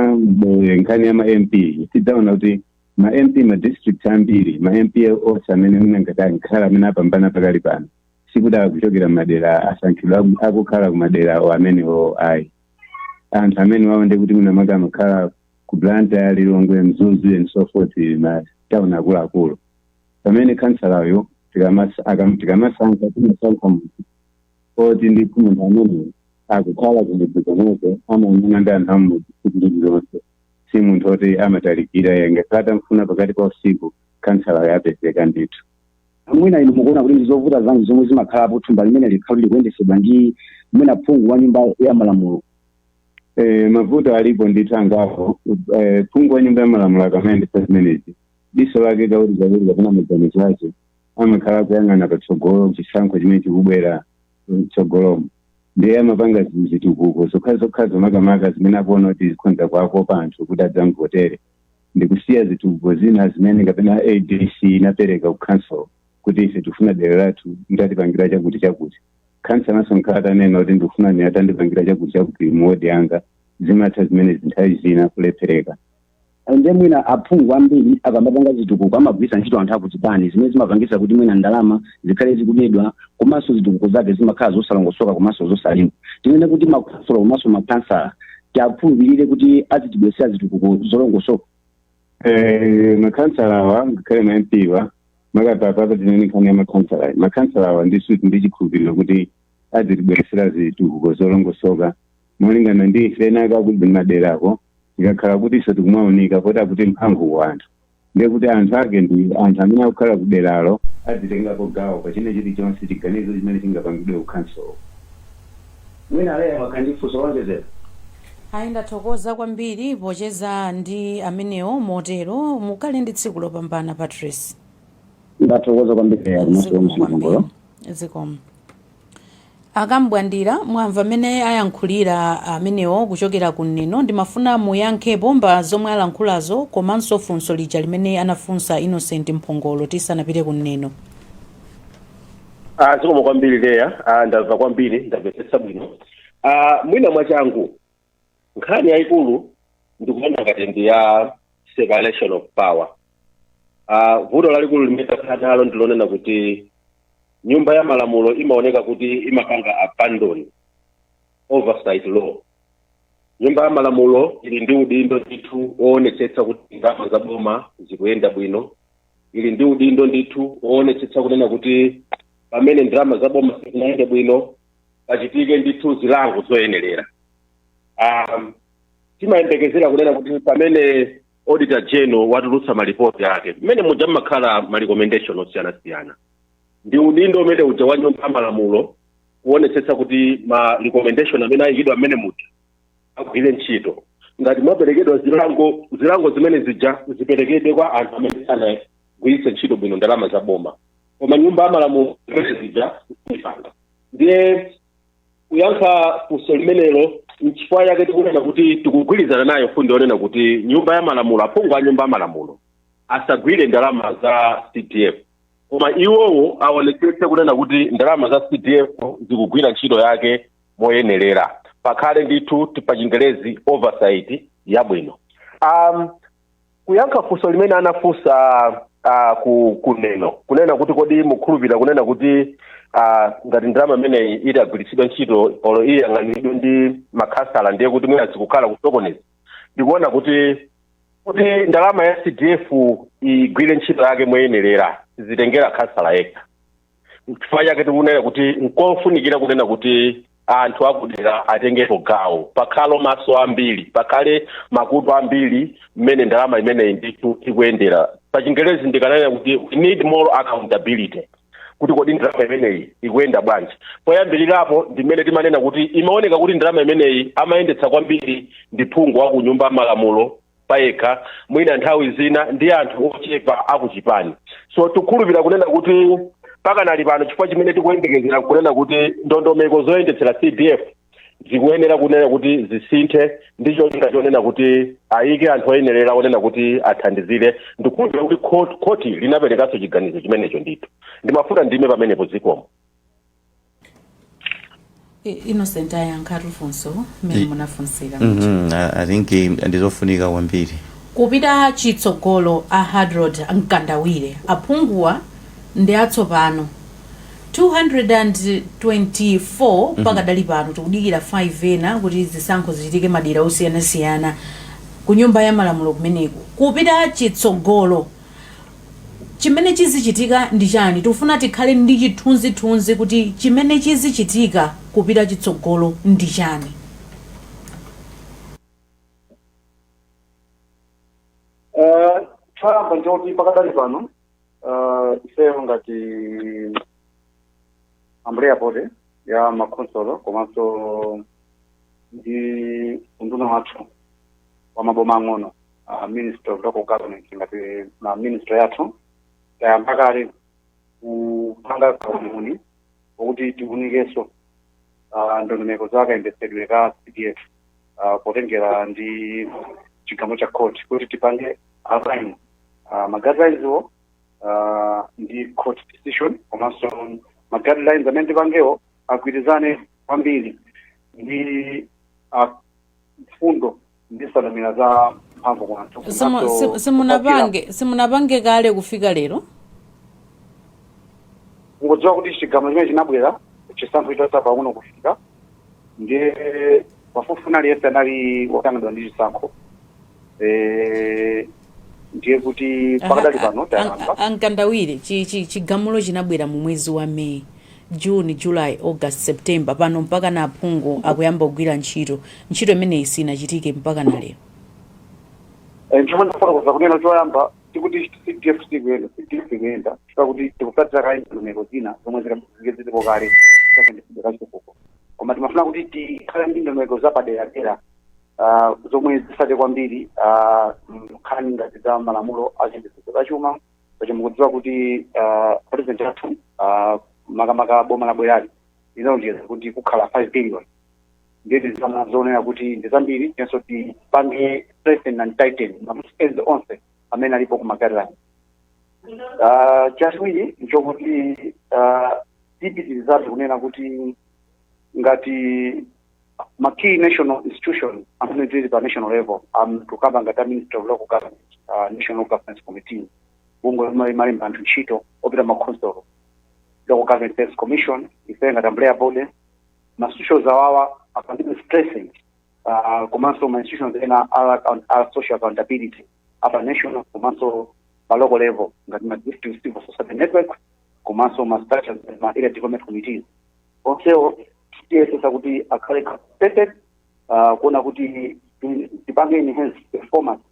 S7: eh, nkhani ya ma mp tidzaona kuti ma mp ma district ambiri ma mp onse amene mungati akhala amene apambana pakali pano sikuti akuchokera ku madera asankhidwa aku- akukhala kumadera awo amenewo ayi anthu amene wawo ndikuti mwina makamaka amakhala ku blantyre lilongwe mzuzu and so forth matauni akuluakulu pamene khansalayo tikamasa- akam- tikamasankha timasankha munthu oti ndi munthu amene akukhala kumudzi komweko amaonana ndi anthu amudzi tsiku lililonse si munthu oti amatalikira angakhale atamfuna pakati pa usiku khansalayo apezeka ndithu mwina inu
S6: mukuona kuti ndi zovuta zanji zomwe zimakhalapo thumba limene likakhala likuyendesedwa ndi mwina phungu wa nyumba ya malamulo
S7: Eh, mavuto alipo ndithu angapo eh, phungu wa nyumba ya malamulo akamayendesa zimenezi diso lake kawirikawiri kapena maganizo ake amakhala akuyang'ana patsogolo chisankho chimene chikubwera mtsogolomo ndiye amapanga zi- zitukuko zokha zokha zomakamaka zimene akuona kuti zikhonza kuwakopa anthu kuti adzamvotere ndikusiya zitukuko zina zimene kapena adc inapereka ku council kuti ife tikufuna dera lathu mutatipangira chakuti chakuti khansalanso nkukhala atanena kuti ndikufuna ine atandipangira chakuti chakuti muwodi yanga zimatha zimenezi nthawi zina kulephereka nde mwina
S6: aphungu ambiri akamapanga zitukuko amagwiritsa ntchito anthu akuchipani zimene zimapangisa kuti mwina ndalama zikhale zikubedwa komanso zitukuko zake zimakhala zosalongosoka komanso zosalimba tinene kuti makhonsolo komanso makhansala tiakhulupirire kuti azitibwesera zitukuko zolongosoka Eh,
S7: makhansala awa ngakhale ma mp awa makamaka apa tinene nkhani ya makhansalayi makhansala awa ndi uti ndi chikhulupiriro kuti azitibweresera zitukuko zolongosoka molingana ndi ife ena akuti maderako zikakhala kuti ife tikumaoneka poti akuti mphamvu kwa anthu ndiye kuti anthu ake ndi anthu amene akukhala kuderalo azitengapo gawo pa china chilichonse chiganizo chimene chingapangidwe kukhansolo
S6: Mwina Leah wakhala ndi funso loonjezera? Ayi
S2: ndathokoza kwambiri pocheza ndi amenewo motero mukhale ndi tsiku lopambana Patrice. Ndathokoza
S6: kwambiri Leah komanso Zikomo kwambiri. Mphongolo. Zikomo.
S2: Akambwandira mwamva amene ayankhulira amenewo kuchokera ku Neno ndimafuna muyankhepo pa zomwe alankhulazo komanso funso lija limene anafunsa Innocent Mphongolo tisanapite ku Neno.
S5: Ah, zikomo kwambiri Leah ah, ndamva kwambiri ndamvetsetsa bwino ah, mwina mwachangu nkhani yayikulu ndikuona ngati ndi ya separation of power ah, vuto lalikulu limene takhala nalo ndilonena kuti nyumba ya malamulo imaoneka kuti imapanga abandon oversight role nyumba ya malamulo ili ndi udindo ndithu woonetsetsa kuti ndalama za boma zikuyenda bwino ili ndi udindo ndithu woonetsetsa kunena kuti pamene ndalama za boma sizinayende bwino pachitike ndithu zilango zoyenerera um, timayembekezera kunena kuti pamene auditor general watulutsa malipoti ake mmene muja mmakhala ma recommendation osiyanasiyana ndi udindo umene uja wa nyumba ya malamulo kuonetsetsa kuti ma recommendation amene ayikidwa mmene muja agwire ntchito ngati mwaperekedwa zilango zilango zimene zija ziperekedwe kwa anthu amene sanagwiritse ntchito bwino ndalama za boma koma nyumba ya malamulo zimene zija siipanga ndiye kuyankha funso limenelo nchifukwa chake tikunena kuti tikugwirizana nayo fundo yonena kuti nyumba ya malamulo aphungu a nyumba ya malamulo asagwire ndalama za cdf koma iwowo aonetsetse kunena kuti ndalama za cdf zikugwira ntchito yake moyenerera pakhale ndithu ti- pa chingelezi oversight yabwino um, kuyankha funso limene anafunsa uh, ku ku Neno kunena kuti kodi mukhulupirira kunena kuti uh, ngati ndalama imeneyi itagwiritsidwa ntchito olo iyang'aniridwe ndi makhansala ndiye kuti mwina sikukhala kusokoneza ndikuona kuti kuti ndalama ya cdf igwire ntchito yake moyenerera sizitengera khansala yekha chifukwa chake tikunena kuti nkofunikira kunena kuti anthu akudera atengepo gawo pakhale maso ambiri pakhale makutu ambiri mmene ndalama imeneyi ndithu ikuyendera pachingerezi ndikanena kuti we need more accountability kuti kodi ndalama imeneyi ikuyenda bwanji poyambirirapo ndimene timanena kuti imaoneka kuti ndalama imeneyi amayendetsa kwambiri ndi phungu wa ku nyumba ya malamulo payekha mwina nthawi zina ndi anthu ochepa akuchipani so tikukhulupirira kunena kuti pakanali pano chifukwa chimene tikuyembekezera kunena kuti ndondomeko zoyendetsera cdf zikuyenera kunena kuti zisinthe ndi cholinga chonena kuti ayike anthu oyenerera onena kuti athandizire ndikukhulupirira kuti khoti linaperekanso chiganizo chimenecho ndithu ndimafuna ndime pamenepo zikomo
S2: innocent ayankhatu funso mmene munafunsira Mhm, I I
S3: think eh, ndizofunika kwambiri kupita
S2: chitsogolo a Hadrod Mkandawire aphunguwa ndi atsopano 224 pakadali pano tikudikira 5 ena kuti zisankho zichitike madera osiyanasiyana ku nyumba ya malamulo kumeneko kupita chitsogolo Chimene chizichitika ndi chani? Tikufuna tikhale ndi chithunzithunzi kuti chimene chizichitika kupita chitsogolo ndi chani.
S4: Choyamba nchoti pakadali pano ifeyo ngati umbrella body ya makhonsolo komanso ndi unduna wathu wa maboma ang'ono uh, ministry of local government ngati line ministry yathu tayamba kale kupanga kauniuni okuti tiunikenso uh, ndondomeko za kayendetsedwe ka cdf uh, potengera ndi chigamulo cha court kuti tipange align uh, ma guidelines-wo uh, ndi court decision komanso ma guidelines amene tipangewo agwirizane kwambiri ndi uh, mfundo ndi nsanamira za mphamvu kwa anthu Simu- komanso simu- kukwatira. simunapange
S2: simunapange kale kufika lero
S4: mukudziwa kuti chigamulo chimenechi chinabwera chisankho chitatsala pang'ono kufika ndiye pafupifupi aliyense anali wotanganidwa ndi chisankho Eh, ndiye kuti pakadali pano tayamba a Mkandawire chi-
S2: chi- chigamulo chinabwera mu mwezi wa may june july august september pano mpaka na aphungu akuyamba kugwira ntchito ntchito imeneyi sinachitike mpaka na lero
S4: Eh, chomwe ndikufotokoza kunena choyamba sikuti cdf sikuyenda cdf ikuyenda chifukwa kuti tikutsatira kaye ndondomeko zina zomwe zilipo kale zimene zili zachitukuko koma timafuna kuti tikhale ndi ndondomeko zapaderadera ah, zomwe zitsate kwambiri ah, nkhani ngati za malamulo a chitetezo cha chuma pacho mukudziwa kuti ah, president athu ah, makamaka boma labwerali linalonjeza kuti kukhala 5 billion ndiye tizama zonena kuti ndi zambiri tinso tipange strengthen and tighten ma loose ends onse amene alipo ku ma guidelines Ah, chachiwiri nchokuti ah, tipitirizabe kunena kuti ngati ma key national institution amene ali pa national level tikukamba ngati a ministry of local government uh, national governance committee bungwe lomwe limalemba anthu ntchito opita m'makhonsolo local government service commission ife ngati umbrella body ma institutions awawa apangidwe strengthen uh, komanso ma institutions ena a account- a social accountability apa national komanso pa local level ngati ma district civil society network komanso ma structures ma area development committees onsewo tiyesetsa kuti akhale capacitated uh, kuona kuti ti- tipange enhance performance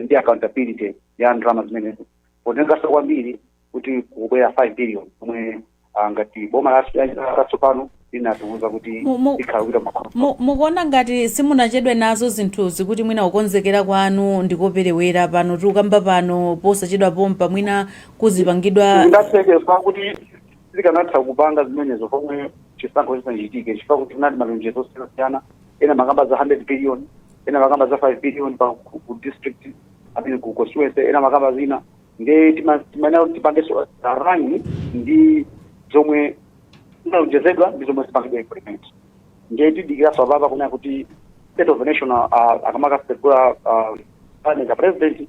S4: ndi accountability ya ndalama zimenezo potengeranso kwambiri kuti kubwera 5 billion omwe ah, ngati boma la- latsopano linatiuza kuti Mu- mu- ikhala kuita makhomo Mu- mukuona
S2: ngati simunachedwe nazo zinthuzi kuti mwina kukonzekera kwanu ndikoperewera pano tikukamba pano posachedwa pompa mwina kuzipangidwa sizikanatheka kuti
S4: tikanatha kupanga zimenezo pomwe chisankho chisanachitike chifukwa kuti kunali malonjezo osiyanasiyana ena amakamba za 100 billion ena amakamba za 5 billion pa ku ku district kapena ku constituency ena amakamba zina nde tima- timayenera kuti tipangeso align ndi zomwe zinalonjezedwa ndi zomwe zipangidwa implement nde tidikiraso apapa kunena kuti state of the nation uh, akamakasegula uh, parliament a president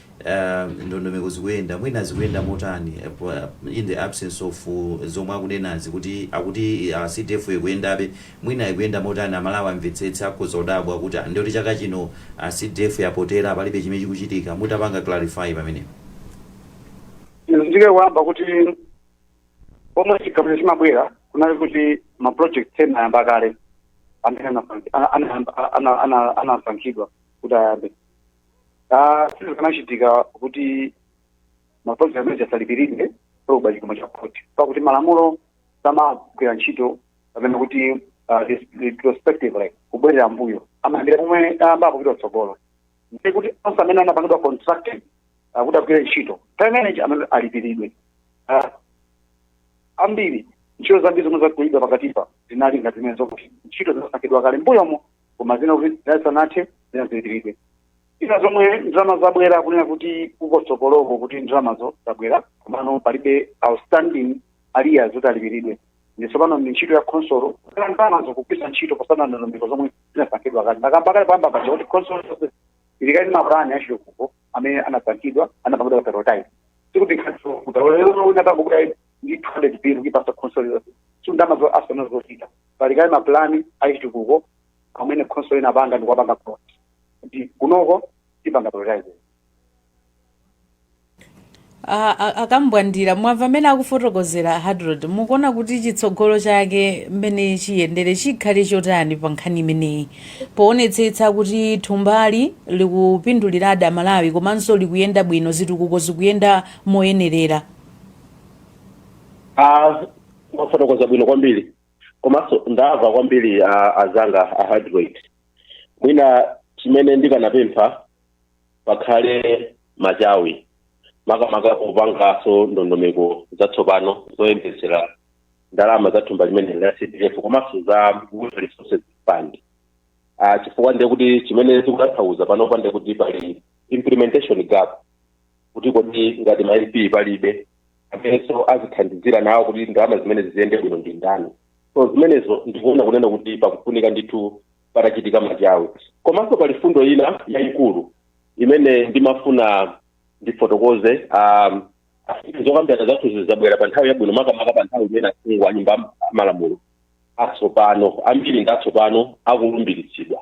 S3: uh, ndondomeko zikuyenda mwina zikuyenda motani eh, pa- in the absence of uh, zomwe akunenazi kuti akuti uh, cdf ikuyendabe mwina ikuyenda motani Amalawi amvetsetse akhoza kudabwa kuti ah, ndiye kuti chaka chino uh, cdf yapotera palibe chimene chikuchitika mutapanga clarify
S4: pamenepo nditsindike poyamba kuti pomwe chigamulo chimabwera kunali kuti ma project ena anayamba kale amene anasankhidwa kuti ayambe Ah, sizikanachitika kuti ma project amenewa asalipiridwe pobwera chigamulo cha khoti pakuti malamulo samagwira ntchito kunena kuti ah, res- retrospectively kubwerera mbuyo amayambira pomwe ayambapo kupita kutsogolo ndi kuti onse amene anapangidwa contracted ah, kuti agwire ntchito time manager amene alipiridwe Ah, ambiri ntchito zambiri zomwe zagwiridwa pakatipa zinali ngati zimene zokuti ntchito zinasankhidwa kale mbuyomo koma zina kuti zisanathe zina zilipiridwe zina zomwe ndalama zabwera kunena kuti kutsogoloku kuti ndalamazo zabwera komano palibe outstanding arrears zoti alipiridwe ndi tsopano ndi ntchito ya khonsolo kala ndalamazo kugwiritsa ntchito potsata ndondomeko zomwe zinasankhidwa kale ndakamba kale poyamba paja kuti khonsolo ili kale ndi mapulani achitukuko amene anasankhidwa anapangidwa prioritize sikuti khatso kutarolero unatangokuta ndi 200 billion kuipasa khonsolo yonse sundama zo asana zochita pali kale mapulani achitukuko amene khonsolo inapanga ndi kuwapanga plot kuti kunoko tipanga prioritize
S2: A- a- a Kambwandira mwamva mmene akufotokozera Hadrod mukuona kuti chitsogolo chake mmene chiyendere chikhale chotani pa nkhani imeneyi poonetsetsa kuti thumbali likupinduliradi amalawi komanso likuyenda bwino zitukuko zikuyenda moyenerera
S5: Ah, mwafotokoza bwino kwambiri komanso ndava kwambiri ah, azanga a Hadrod mwina chimene ndikanapempha pakhale machawi makamaka kupangaso ndondomeko zatsopano zoyendetsera ndalama za thumba limene la cdf komanso za Water resources fund Ah, chifukwa ndiye kuti chimene zikutanthauza panopa ndiye kuti pali implementation gap kuti kodi ngati ma mp palibe amenenso azithandizira nawo kuti ndalama zimenezi ziyende bwino ndi ndani so zimenezo ndikuona kunena kuti pakufunika ndithu patachitika machawi komanso pali fundo ina yayikulu imene ndimafuna ndifotokoze um, afike zokambirana zathuzi zabwera pa nthawi yabwino makamaka pa nthawi imene aphungu a nyumba ya malamulo atsopano ambiri ndi atsopano akulumbiritsidwa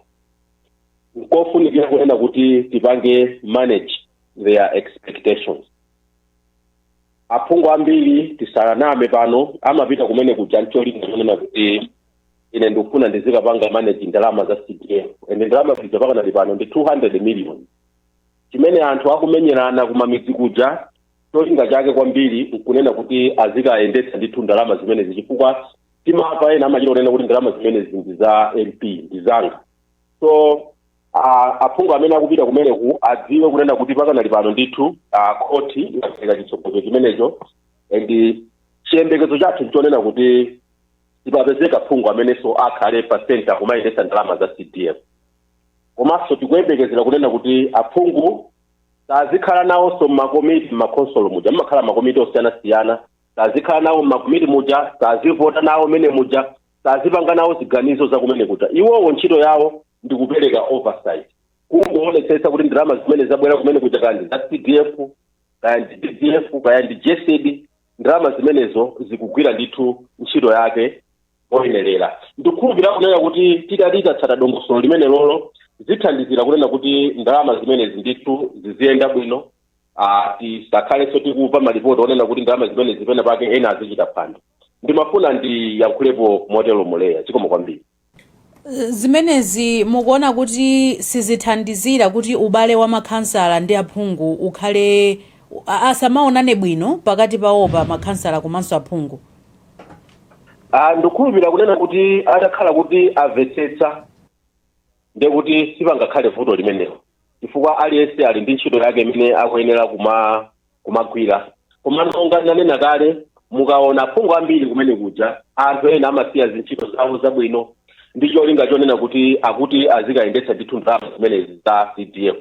S5: nkofunikira kunena kuti tipange manage their expectations aphungu ambiri tisaname pano amapita kumene kuja ncholinga chonena kuti ine ndikufuna ndizikapanga manage ndalama za cdf ende ndalama zija pakanali pano ndi 200 million chimene anthu akumenyerana kumamidzi kuja cholinga chake kwambiri nkunena kuti azikayendetsa ndithu ndalama zimenezi chifukwa timava ena amachita kunena kuti ndalama zimenezi ndi za mp ndi zanga so a- aphungu amene akupita kumeneku adziwe kunena kuti pakanali pano ndithu a, khoti inapereka chitsogozo chimenecho and chiyembekezo chathu nchonena kuti sipapezeka phungu amenenso akhale pa center kumayendetsa ndalama za cdf komanso tikuyembekezera kunena kuti aphungu sazikhala nawonso mmakomiti mmakhonsolo muja mmakhala makomiti osiyanasiyana sazikhala nawo mmakomiti muja sazivota nawo mmene muja sazipanga nawo ziganizo za kumene kuja iwowo ntchito yawo ndi kupereka oversight kungoonetsetsa kuti ndalama zimene zabwera kumene kuja kaya ndi za cdf kaya ndi ddf kaya ndi gesd ndalama zimenezo zikugwira ndithu ntchito yake oyenerera ndikukhulupirira kunena kuti titati tatsata dongosolo limenelolo zithandizira kunena kuti ndalama zimenezi ndithu ziziyenda bwino ah, tisakhalenso tikuva malipoti onena kuti ndalama zimenezi pena pake ena azichita phwando ndimafuna ndiyankhulepo motero Muleya chikomo
S2: kwambiri zimenezi mukuona kuti sizithandizira kuti ubale wa makhansala ndi aphungu ukhale a- asamaonane bwino pakati pawopa makhansala komanso aphungu
S5: Ah, ndikukhulupirira kunena kuti atakhala kuti amvetsetsa ndiye kuti sipangakhale vuto limenelo chifukwa aliyense ali ndi ntchito yake imene akuyenera kumagwira koma monga nanena kale mukaona aphungu ambiri kumene kuja anthu ena amasiya zintchito zawo zabwino ndi cholinga chonena kuti akuti azikayendetsa ndithu ndalama zimenezi za cdf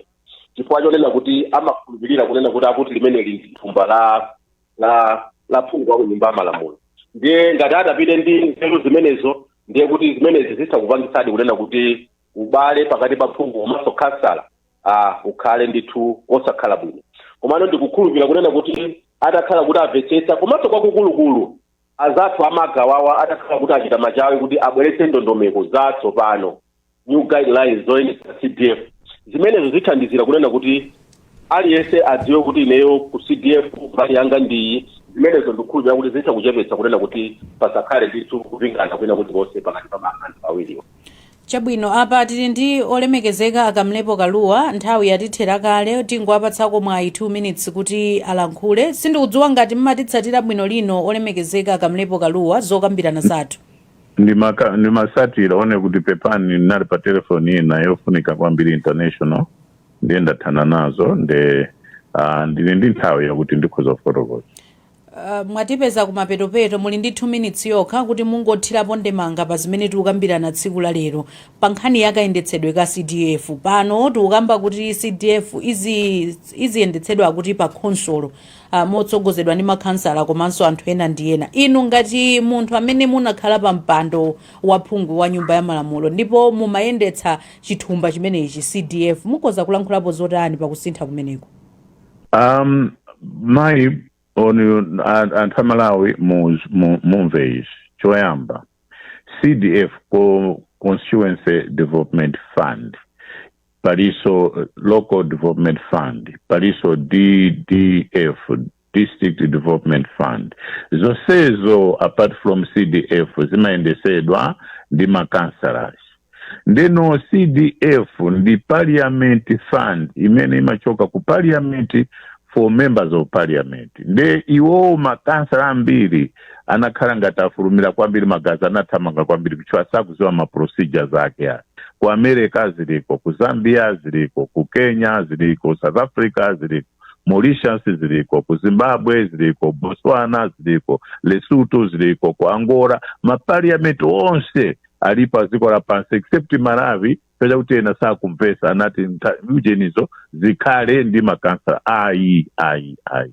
S5: chifukwa chonena kuti amakhulupirira kunena kuti akuti limeneli ndi thumba la la la phungu wa ku nyumba ya malamulo ndiye ngati atapite ndi nzeru zimenezo ndiye kuti zimenezi zitha kupangitsadi kunena kuti ubale pakati pa phungu komanso khansala ah, ukhale ndithu osakhala bwino komano ndikukhulupirira kunena kuti atakhala kuti amvetsetsa komanso kwakukulukulu azathu abomawa atakhala kuti achita machawi kuti abweretse ndondomeko zatsopano new guidelines zoyendetsa cdf zimenezo zithandizira kunena kuti aliyense adziwe kuti ineyo ku cdf mbali yanga ndiyi zimenezo ndikukhulupirira kuti zitha kuchepetsa kunena kuti pasakhale ndithu kupingana kwina kulikonse pakati pa ma- anthu awiriwo
S2: chabwino apa tili ndi olemekezeka a Kamlepo Kalua nthawi yatithera kale tingowapatsako mwayi 2 minutes kuti alankhule sindikudziwa ngati mmatitsatira bwino lino olemekezeka a Kamlepo Kalua zokambirana zathu ndimaka-
S8: ndimasatira one kuti pepani ndinali pa telefoni ina yofunika kwambiri international ndiye ndathana nazo nde ah, ndili ndi nthawi yakuti ndikhoza kufotokoza Uh, mwatipeza
S2: kumapetopeto muli ndi 2 minutes yokha kuti mungothirapo ndemanga pa zimene tikukambirana tsiku la lero pa nkhani ya kayendetsedwe ka cdf pano tikukamba kuti cdf izi- iziyendetsedwa kuti pa khonsolo ah, motsogozedwa ndi makhansala komanso anthu ena ndi ena inu ngati munthu amene munakhala pa mpando wa phungu wa nyumba ya malamulo ndipo mumayendetsa chithumba chimenechi cdf mukhoza kulankhulapo zotani pa kusintha kumeneko um
S8: mayi oni a- anthu a malawi mu- mu- mumve izi choyamba cdf co- constituency development fund palinso local development fund palinso ddf district development fund zonsezo apart from cdf zimayendesedwa ndi makansalas ndeno cdf ndi parliament fund imene imachoka ku parliament for members of parliament nde iwowo makansala ambiri anakhala ngati afulumira kwambiri magazi anathamanga kwambiri kuti mwina sakuziwa ma procedures ake ayi ku america ziliko ku zambia ziliko ku kenya ziliko south africa ziliko mauritius ziliko ku zimbabwe ziliko botswana ziliko lesotho ziliko ku angola mapariamenti onse ali pa dziko lapansi except malawi kupeza kuti ena sakumvesa anati ntha- ujenizo zikhale ndi makansala ayi ayi ayi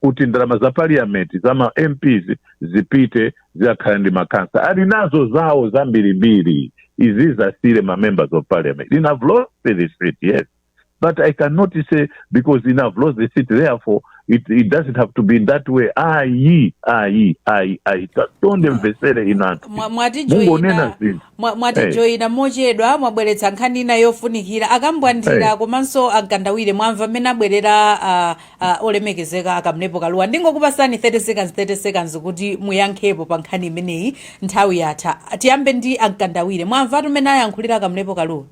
S8: kuti ndalama za parliament za ma mps zipite zikakhale ndi makansala ali nazo zawo zambirimbiri izi zisiyire ma members of parliament I have lost the seat yes but i cannot say because I have lost the seat therefore it, it doesn't have to be in that way ayi ayi ayi ayi tandimveserani anthu Mwa- mwatijoyina- mungonena zinthu
S2: mwatijoyina mochedwa mwabweretsa nkhani ina yofunikira a Kambwandira komanso a Mkandawire mwamva mmene abwerera ah, ah, olemekezeka a Kamlepo Kaluwa ndingokupasani 30 seconds 30 seconds kuti muyankhepo pa nkhani imeneyi nthawi yatha tiyambe ndi a Mkandawire mwamvatu mmene ayankhulira a Kamlepo Kaluwa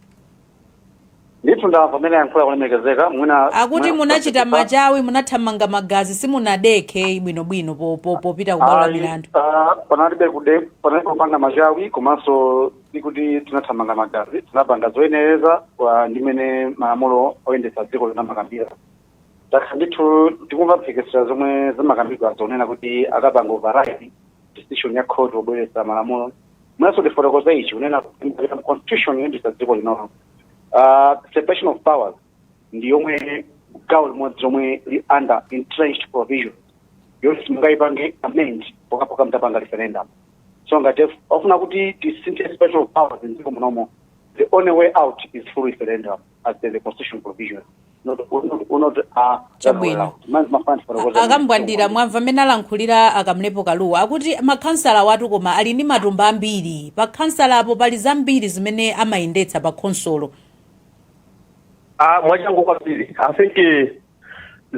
S4: ndithu ndamva mmene ayankhulira olemekezeka mwina akuti munachita
S2: machawi munathamanga magazi simunadekhe bwinobwino po- po- popita kubwalo la Ayi, milandu ah, panalibe
S4: kude panalibe kupanga machawi komanso sikuti tinathamanga magazi tinapanga zoyenera malinga ndi mmene malamulo oyendetsa dziko lino amakambira takhala ndithu tikumva mphekesera zomwe zimakambidwa zonena kuti akapanga override decision ya court pobweretsa malamulo mwinanso ndifotokoze ichi kunena kuti mu constitution yoyendetsa dziko linolo uh, separation of powers ndi yomwe gawo limodzi lomwe lili under entrenched provision yoti simungayipange amend pokapoka mutapanga referendum so ngati akufuna kuti tisinthe separation of powers mdziko munomo the only way out is through referendum as per the constitutional provision. Not, not, not,
S2: uh, Chabwino. Man's my fans for the world. a Kambwandira mwamva mmene alankhulira a Kamlepo Kaluwa akuti makhansala awatu nawo koma ali ndi matumba ambiri pa khonsolopo pali zambiri zimene amayendetsa pa khonsolo Ah,
S5: mwachangu kwambiri i think eh,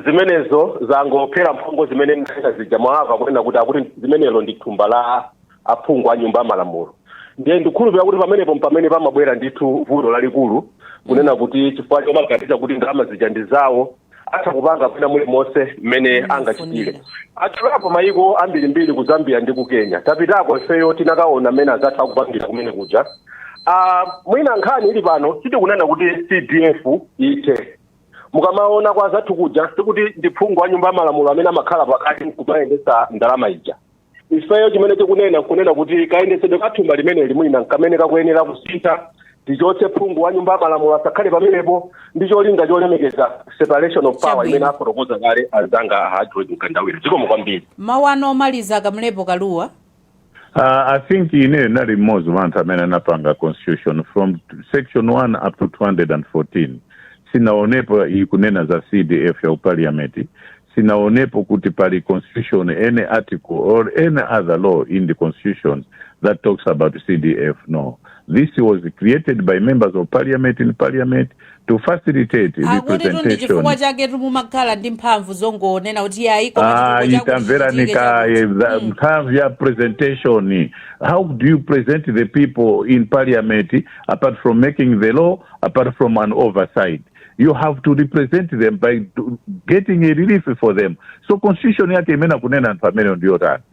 S5: zimenezo zangopherera mphongo zimene ndimanena zija mwawamva kunena kuti akuti limenelo ndi thumba la aphungu a nyumba ya malamulo ndiye ndikhulupirira kuti pamenepo mpamene pamabwera ndithu vuto lalikulu kunena kuti chifukwa chomaganiza kuti ndalama zija ndi zawo atha kupanga mwina mulimonse mmene angachitire atchulapo mayiko ambirimbiri ku zambia ndi ku kenya tapitako ifeyo tinakaona mmene azathu akupangira kumene kuja Ah, mwina nkhani ili pano sitikunena kuti cdf ithe mukamaona kwa anzathu kuja sikuti ndi phungu wa nyumba ya malamulo amene amakhala pakati nkumayendetsa ndalama ija ifeyo chimene tikunena nkunena kuti kayendetsedwe ka thumba limeneli mwina nkamene kakuyenera kusintha tichotse phungu wa nyumba ya malamulo asakhale pamenepo ndi cholinga cholemekeza separation of power Chabwino. imene afotokoza kale azanga a hadrod mkandawire zikomo kwambiri mawu anu omaliza
S2: akamlepo kalua Uh, I
S8: think ineyo nali mmodzi wa anthu amene anapanga constitution from section 1 up to 214 sinaonepo ikunena za cdf ya parliament sinaonepo kuti pali constitution any article or any other law in the constitution that talks about cdf no this was created by members of parliament in parliament to facilitate akuti tu ndi representation chifukwa
S2: chaketu mumakhala ndi mphamvu zongonena kuti ayi koma chitukuko ayi chakuti tamverani
S8: chichitike kaye chakuti. za- Mm. mphamvu ya presentation how do you present the people in parliament apart from making the law apart from an oversight you have to represent them by do- getting a relief for them so constitution yake imene akunena anthu ameneyo ndiyotani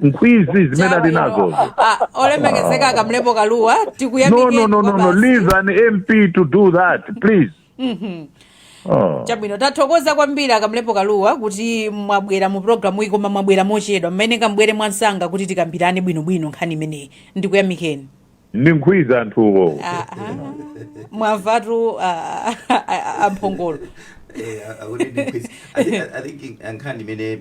S8: nkhwidzi zimene ali nazozo Ah,
S2: olemekezeka akamlepo kalua no tikuyamikeni no no no no
S8: kwabasi. leave an mp to do that please oh.
S2: chabwino tathokoza kwambiri akamlepo kalua kuti mwabwera mu programu iyi koma mwabwera mochedwa mumayeneka mubwere mwansanga kuti tikambirane bwinobwino nkhani imeneyi ndikuyamikeni ndi nkhwidzi
S8: anthuwo Ah, ah.
S2: mwamvatu ah, ah, ah, amphongolo Eh, akuti ndi nkhwidzi.
S3: I think- I think nkhani imene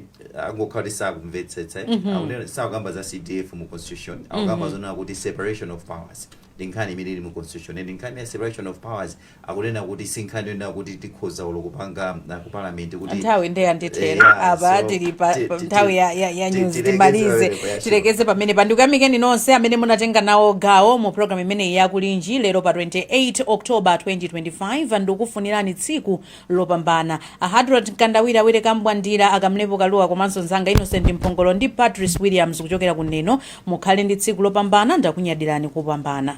S3: angokhala kuti sakumvetsetsa akuti sakukamba za cdf mu constitution akukamba zonena kuti separation of powers ndi nkhani imene ili mu constitution and nkhani ya separation of powers akunena kuti si nkhani yonena kuti tikhoza olo kupanga ah, ku parliament kuti nthawi nde
S2: yandithera Yeah, apa so, tili pa ti- pa ti- nthawi ya, ya, ya ti- news tilekeze timalize pamenepa ya show. tilekeze pamenepa ndikuyamikeni nonse amene munatenga nawo gawo mu programu imeneyi ya kulinji lero pa 28 october 2025 ndikufunirani tsiku lopambana ahadrod mkandawire awilly kambwandira akamlepo kalua komanso nzanga innocent mphongolo ndi patrice williams kuchokera ku neno mukhale ndi tsiku lopambana ndakunyadirani kopambana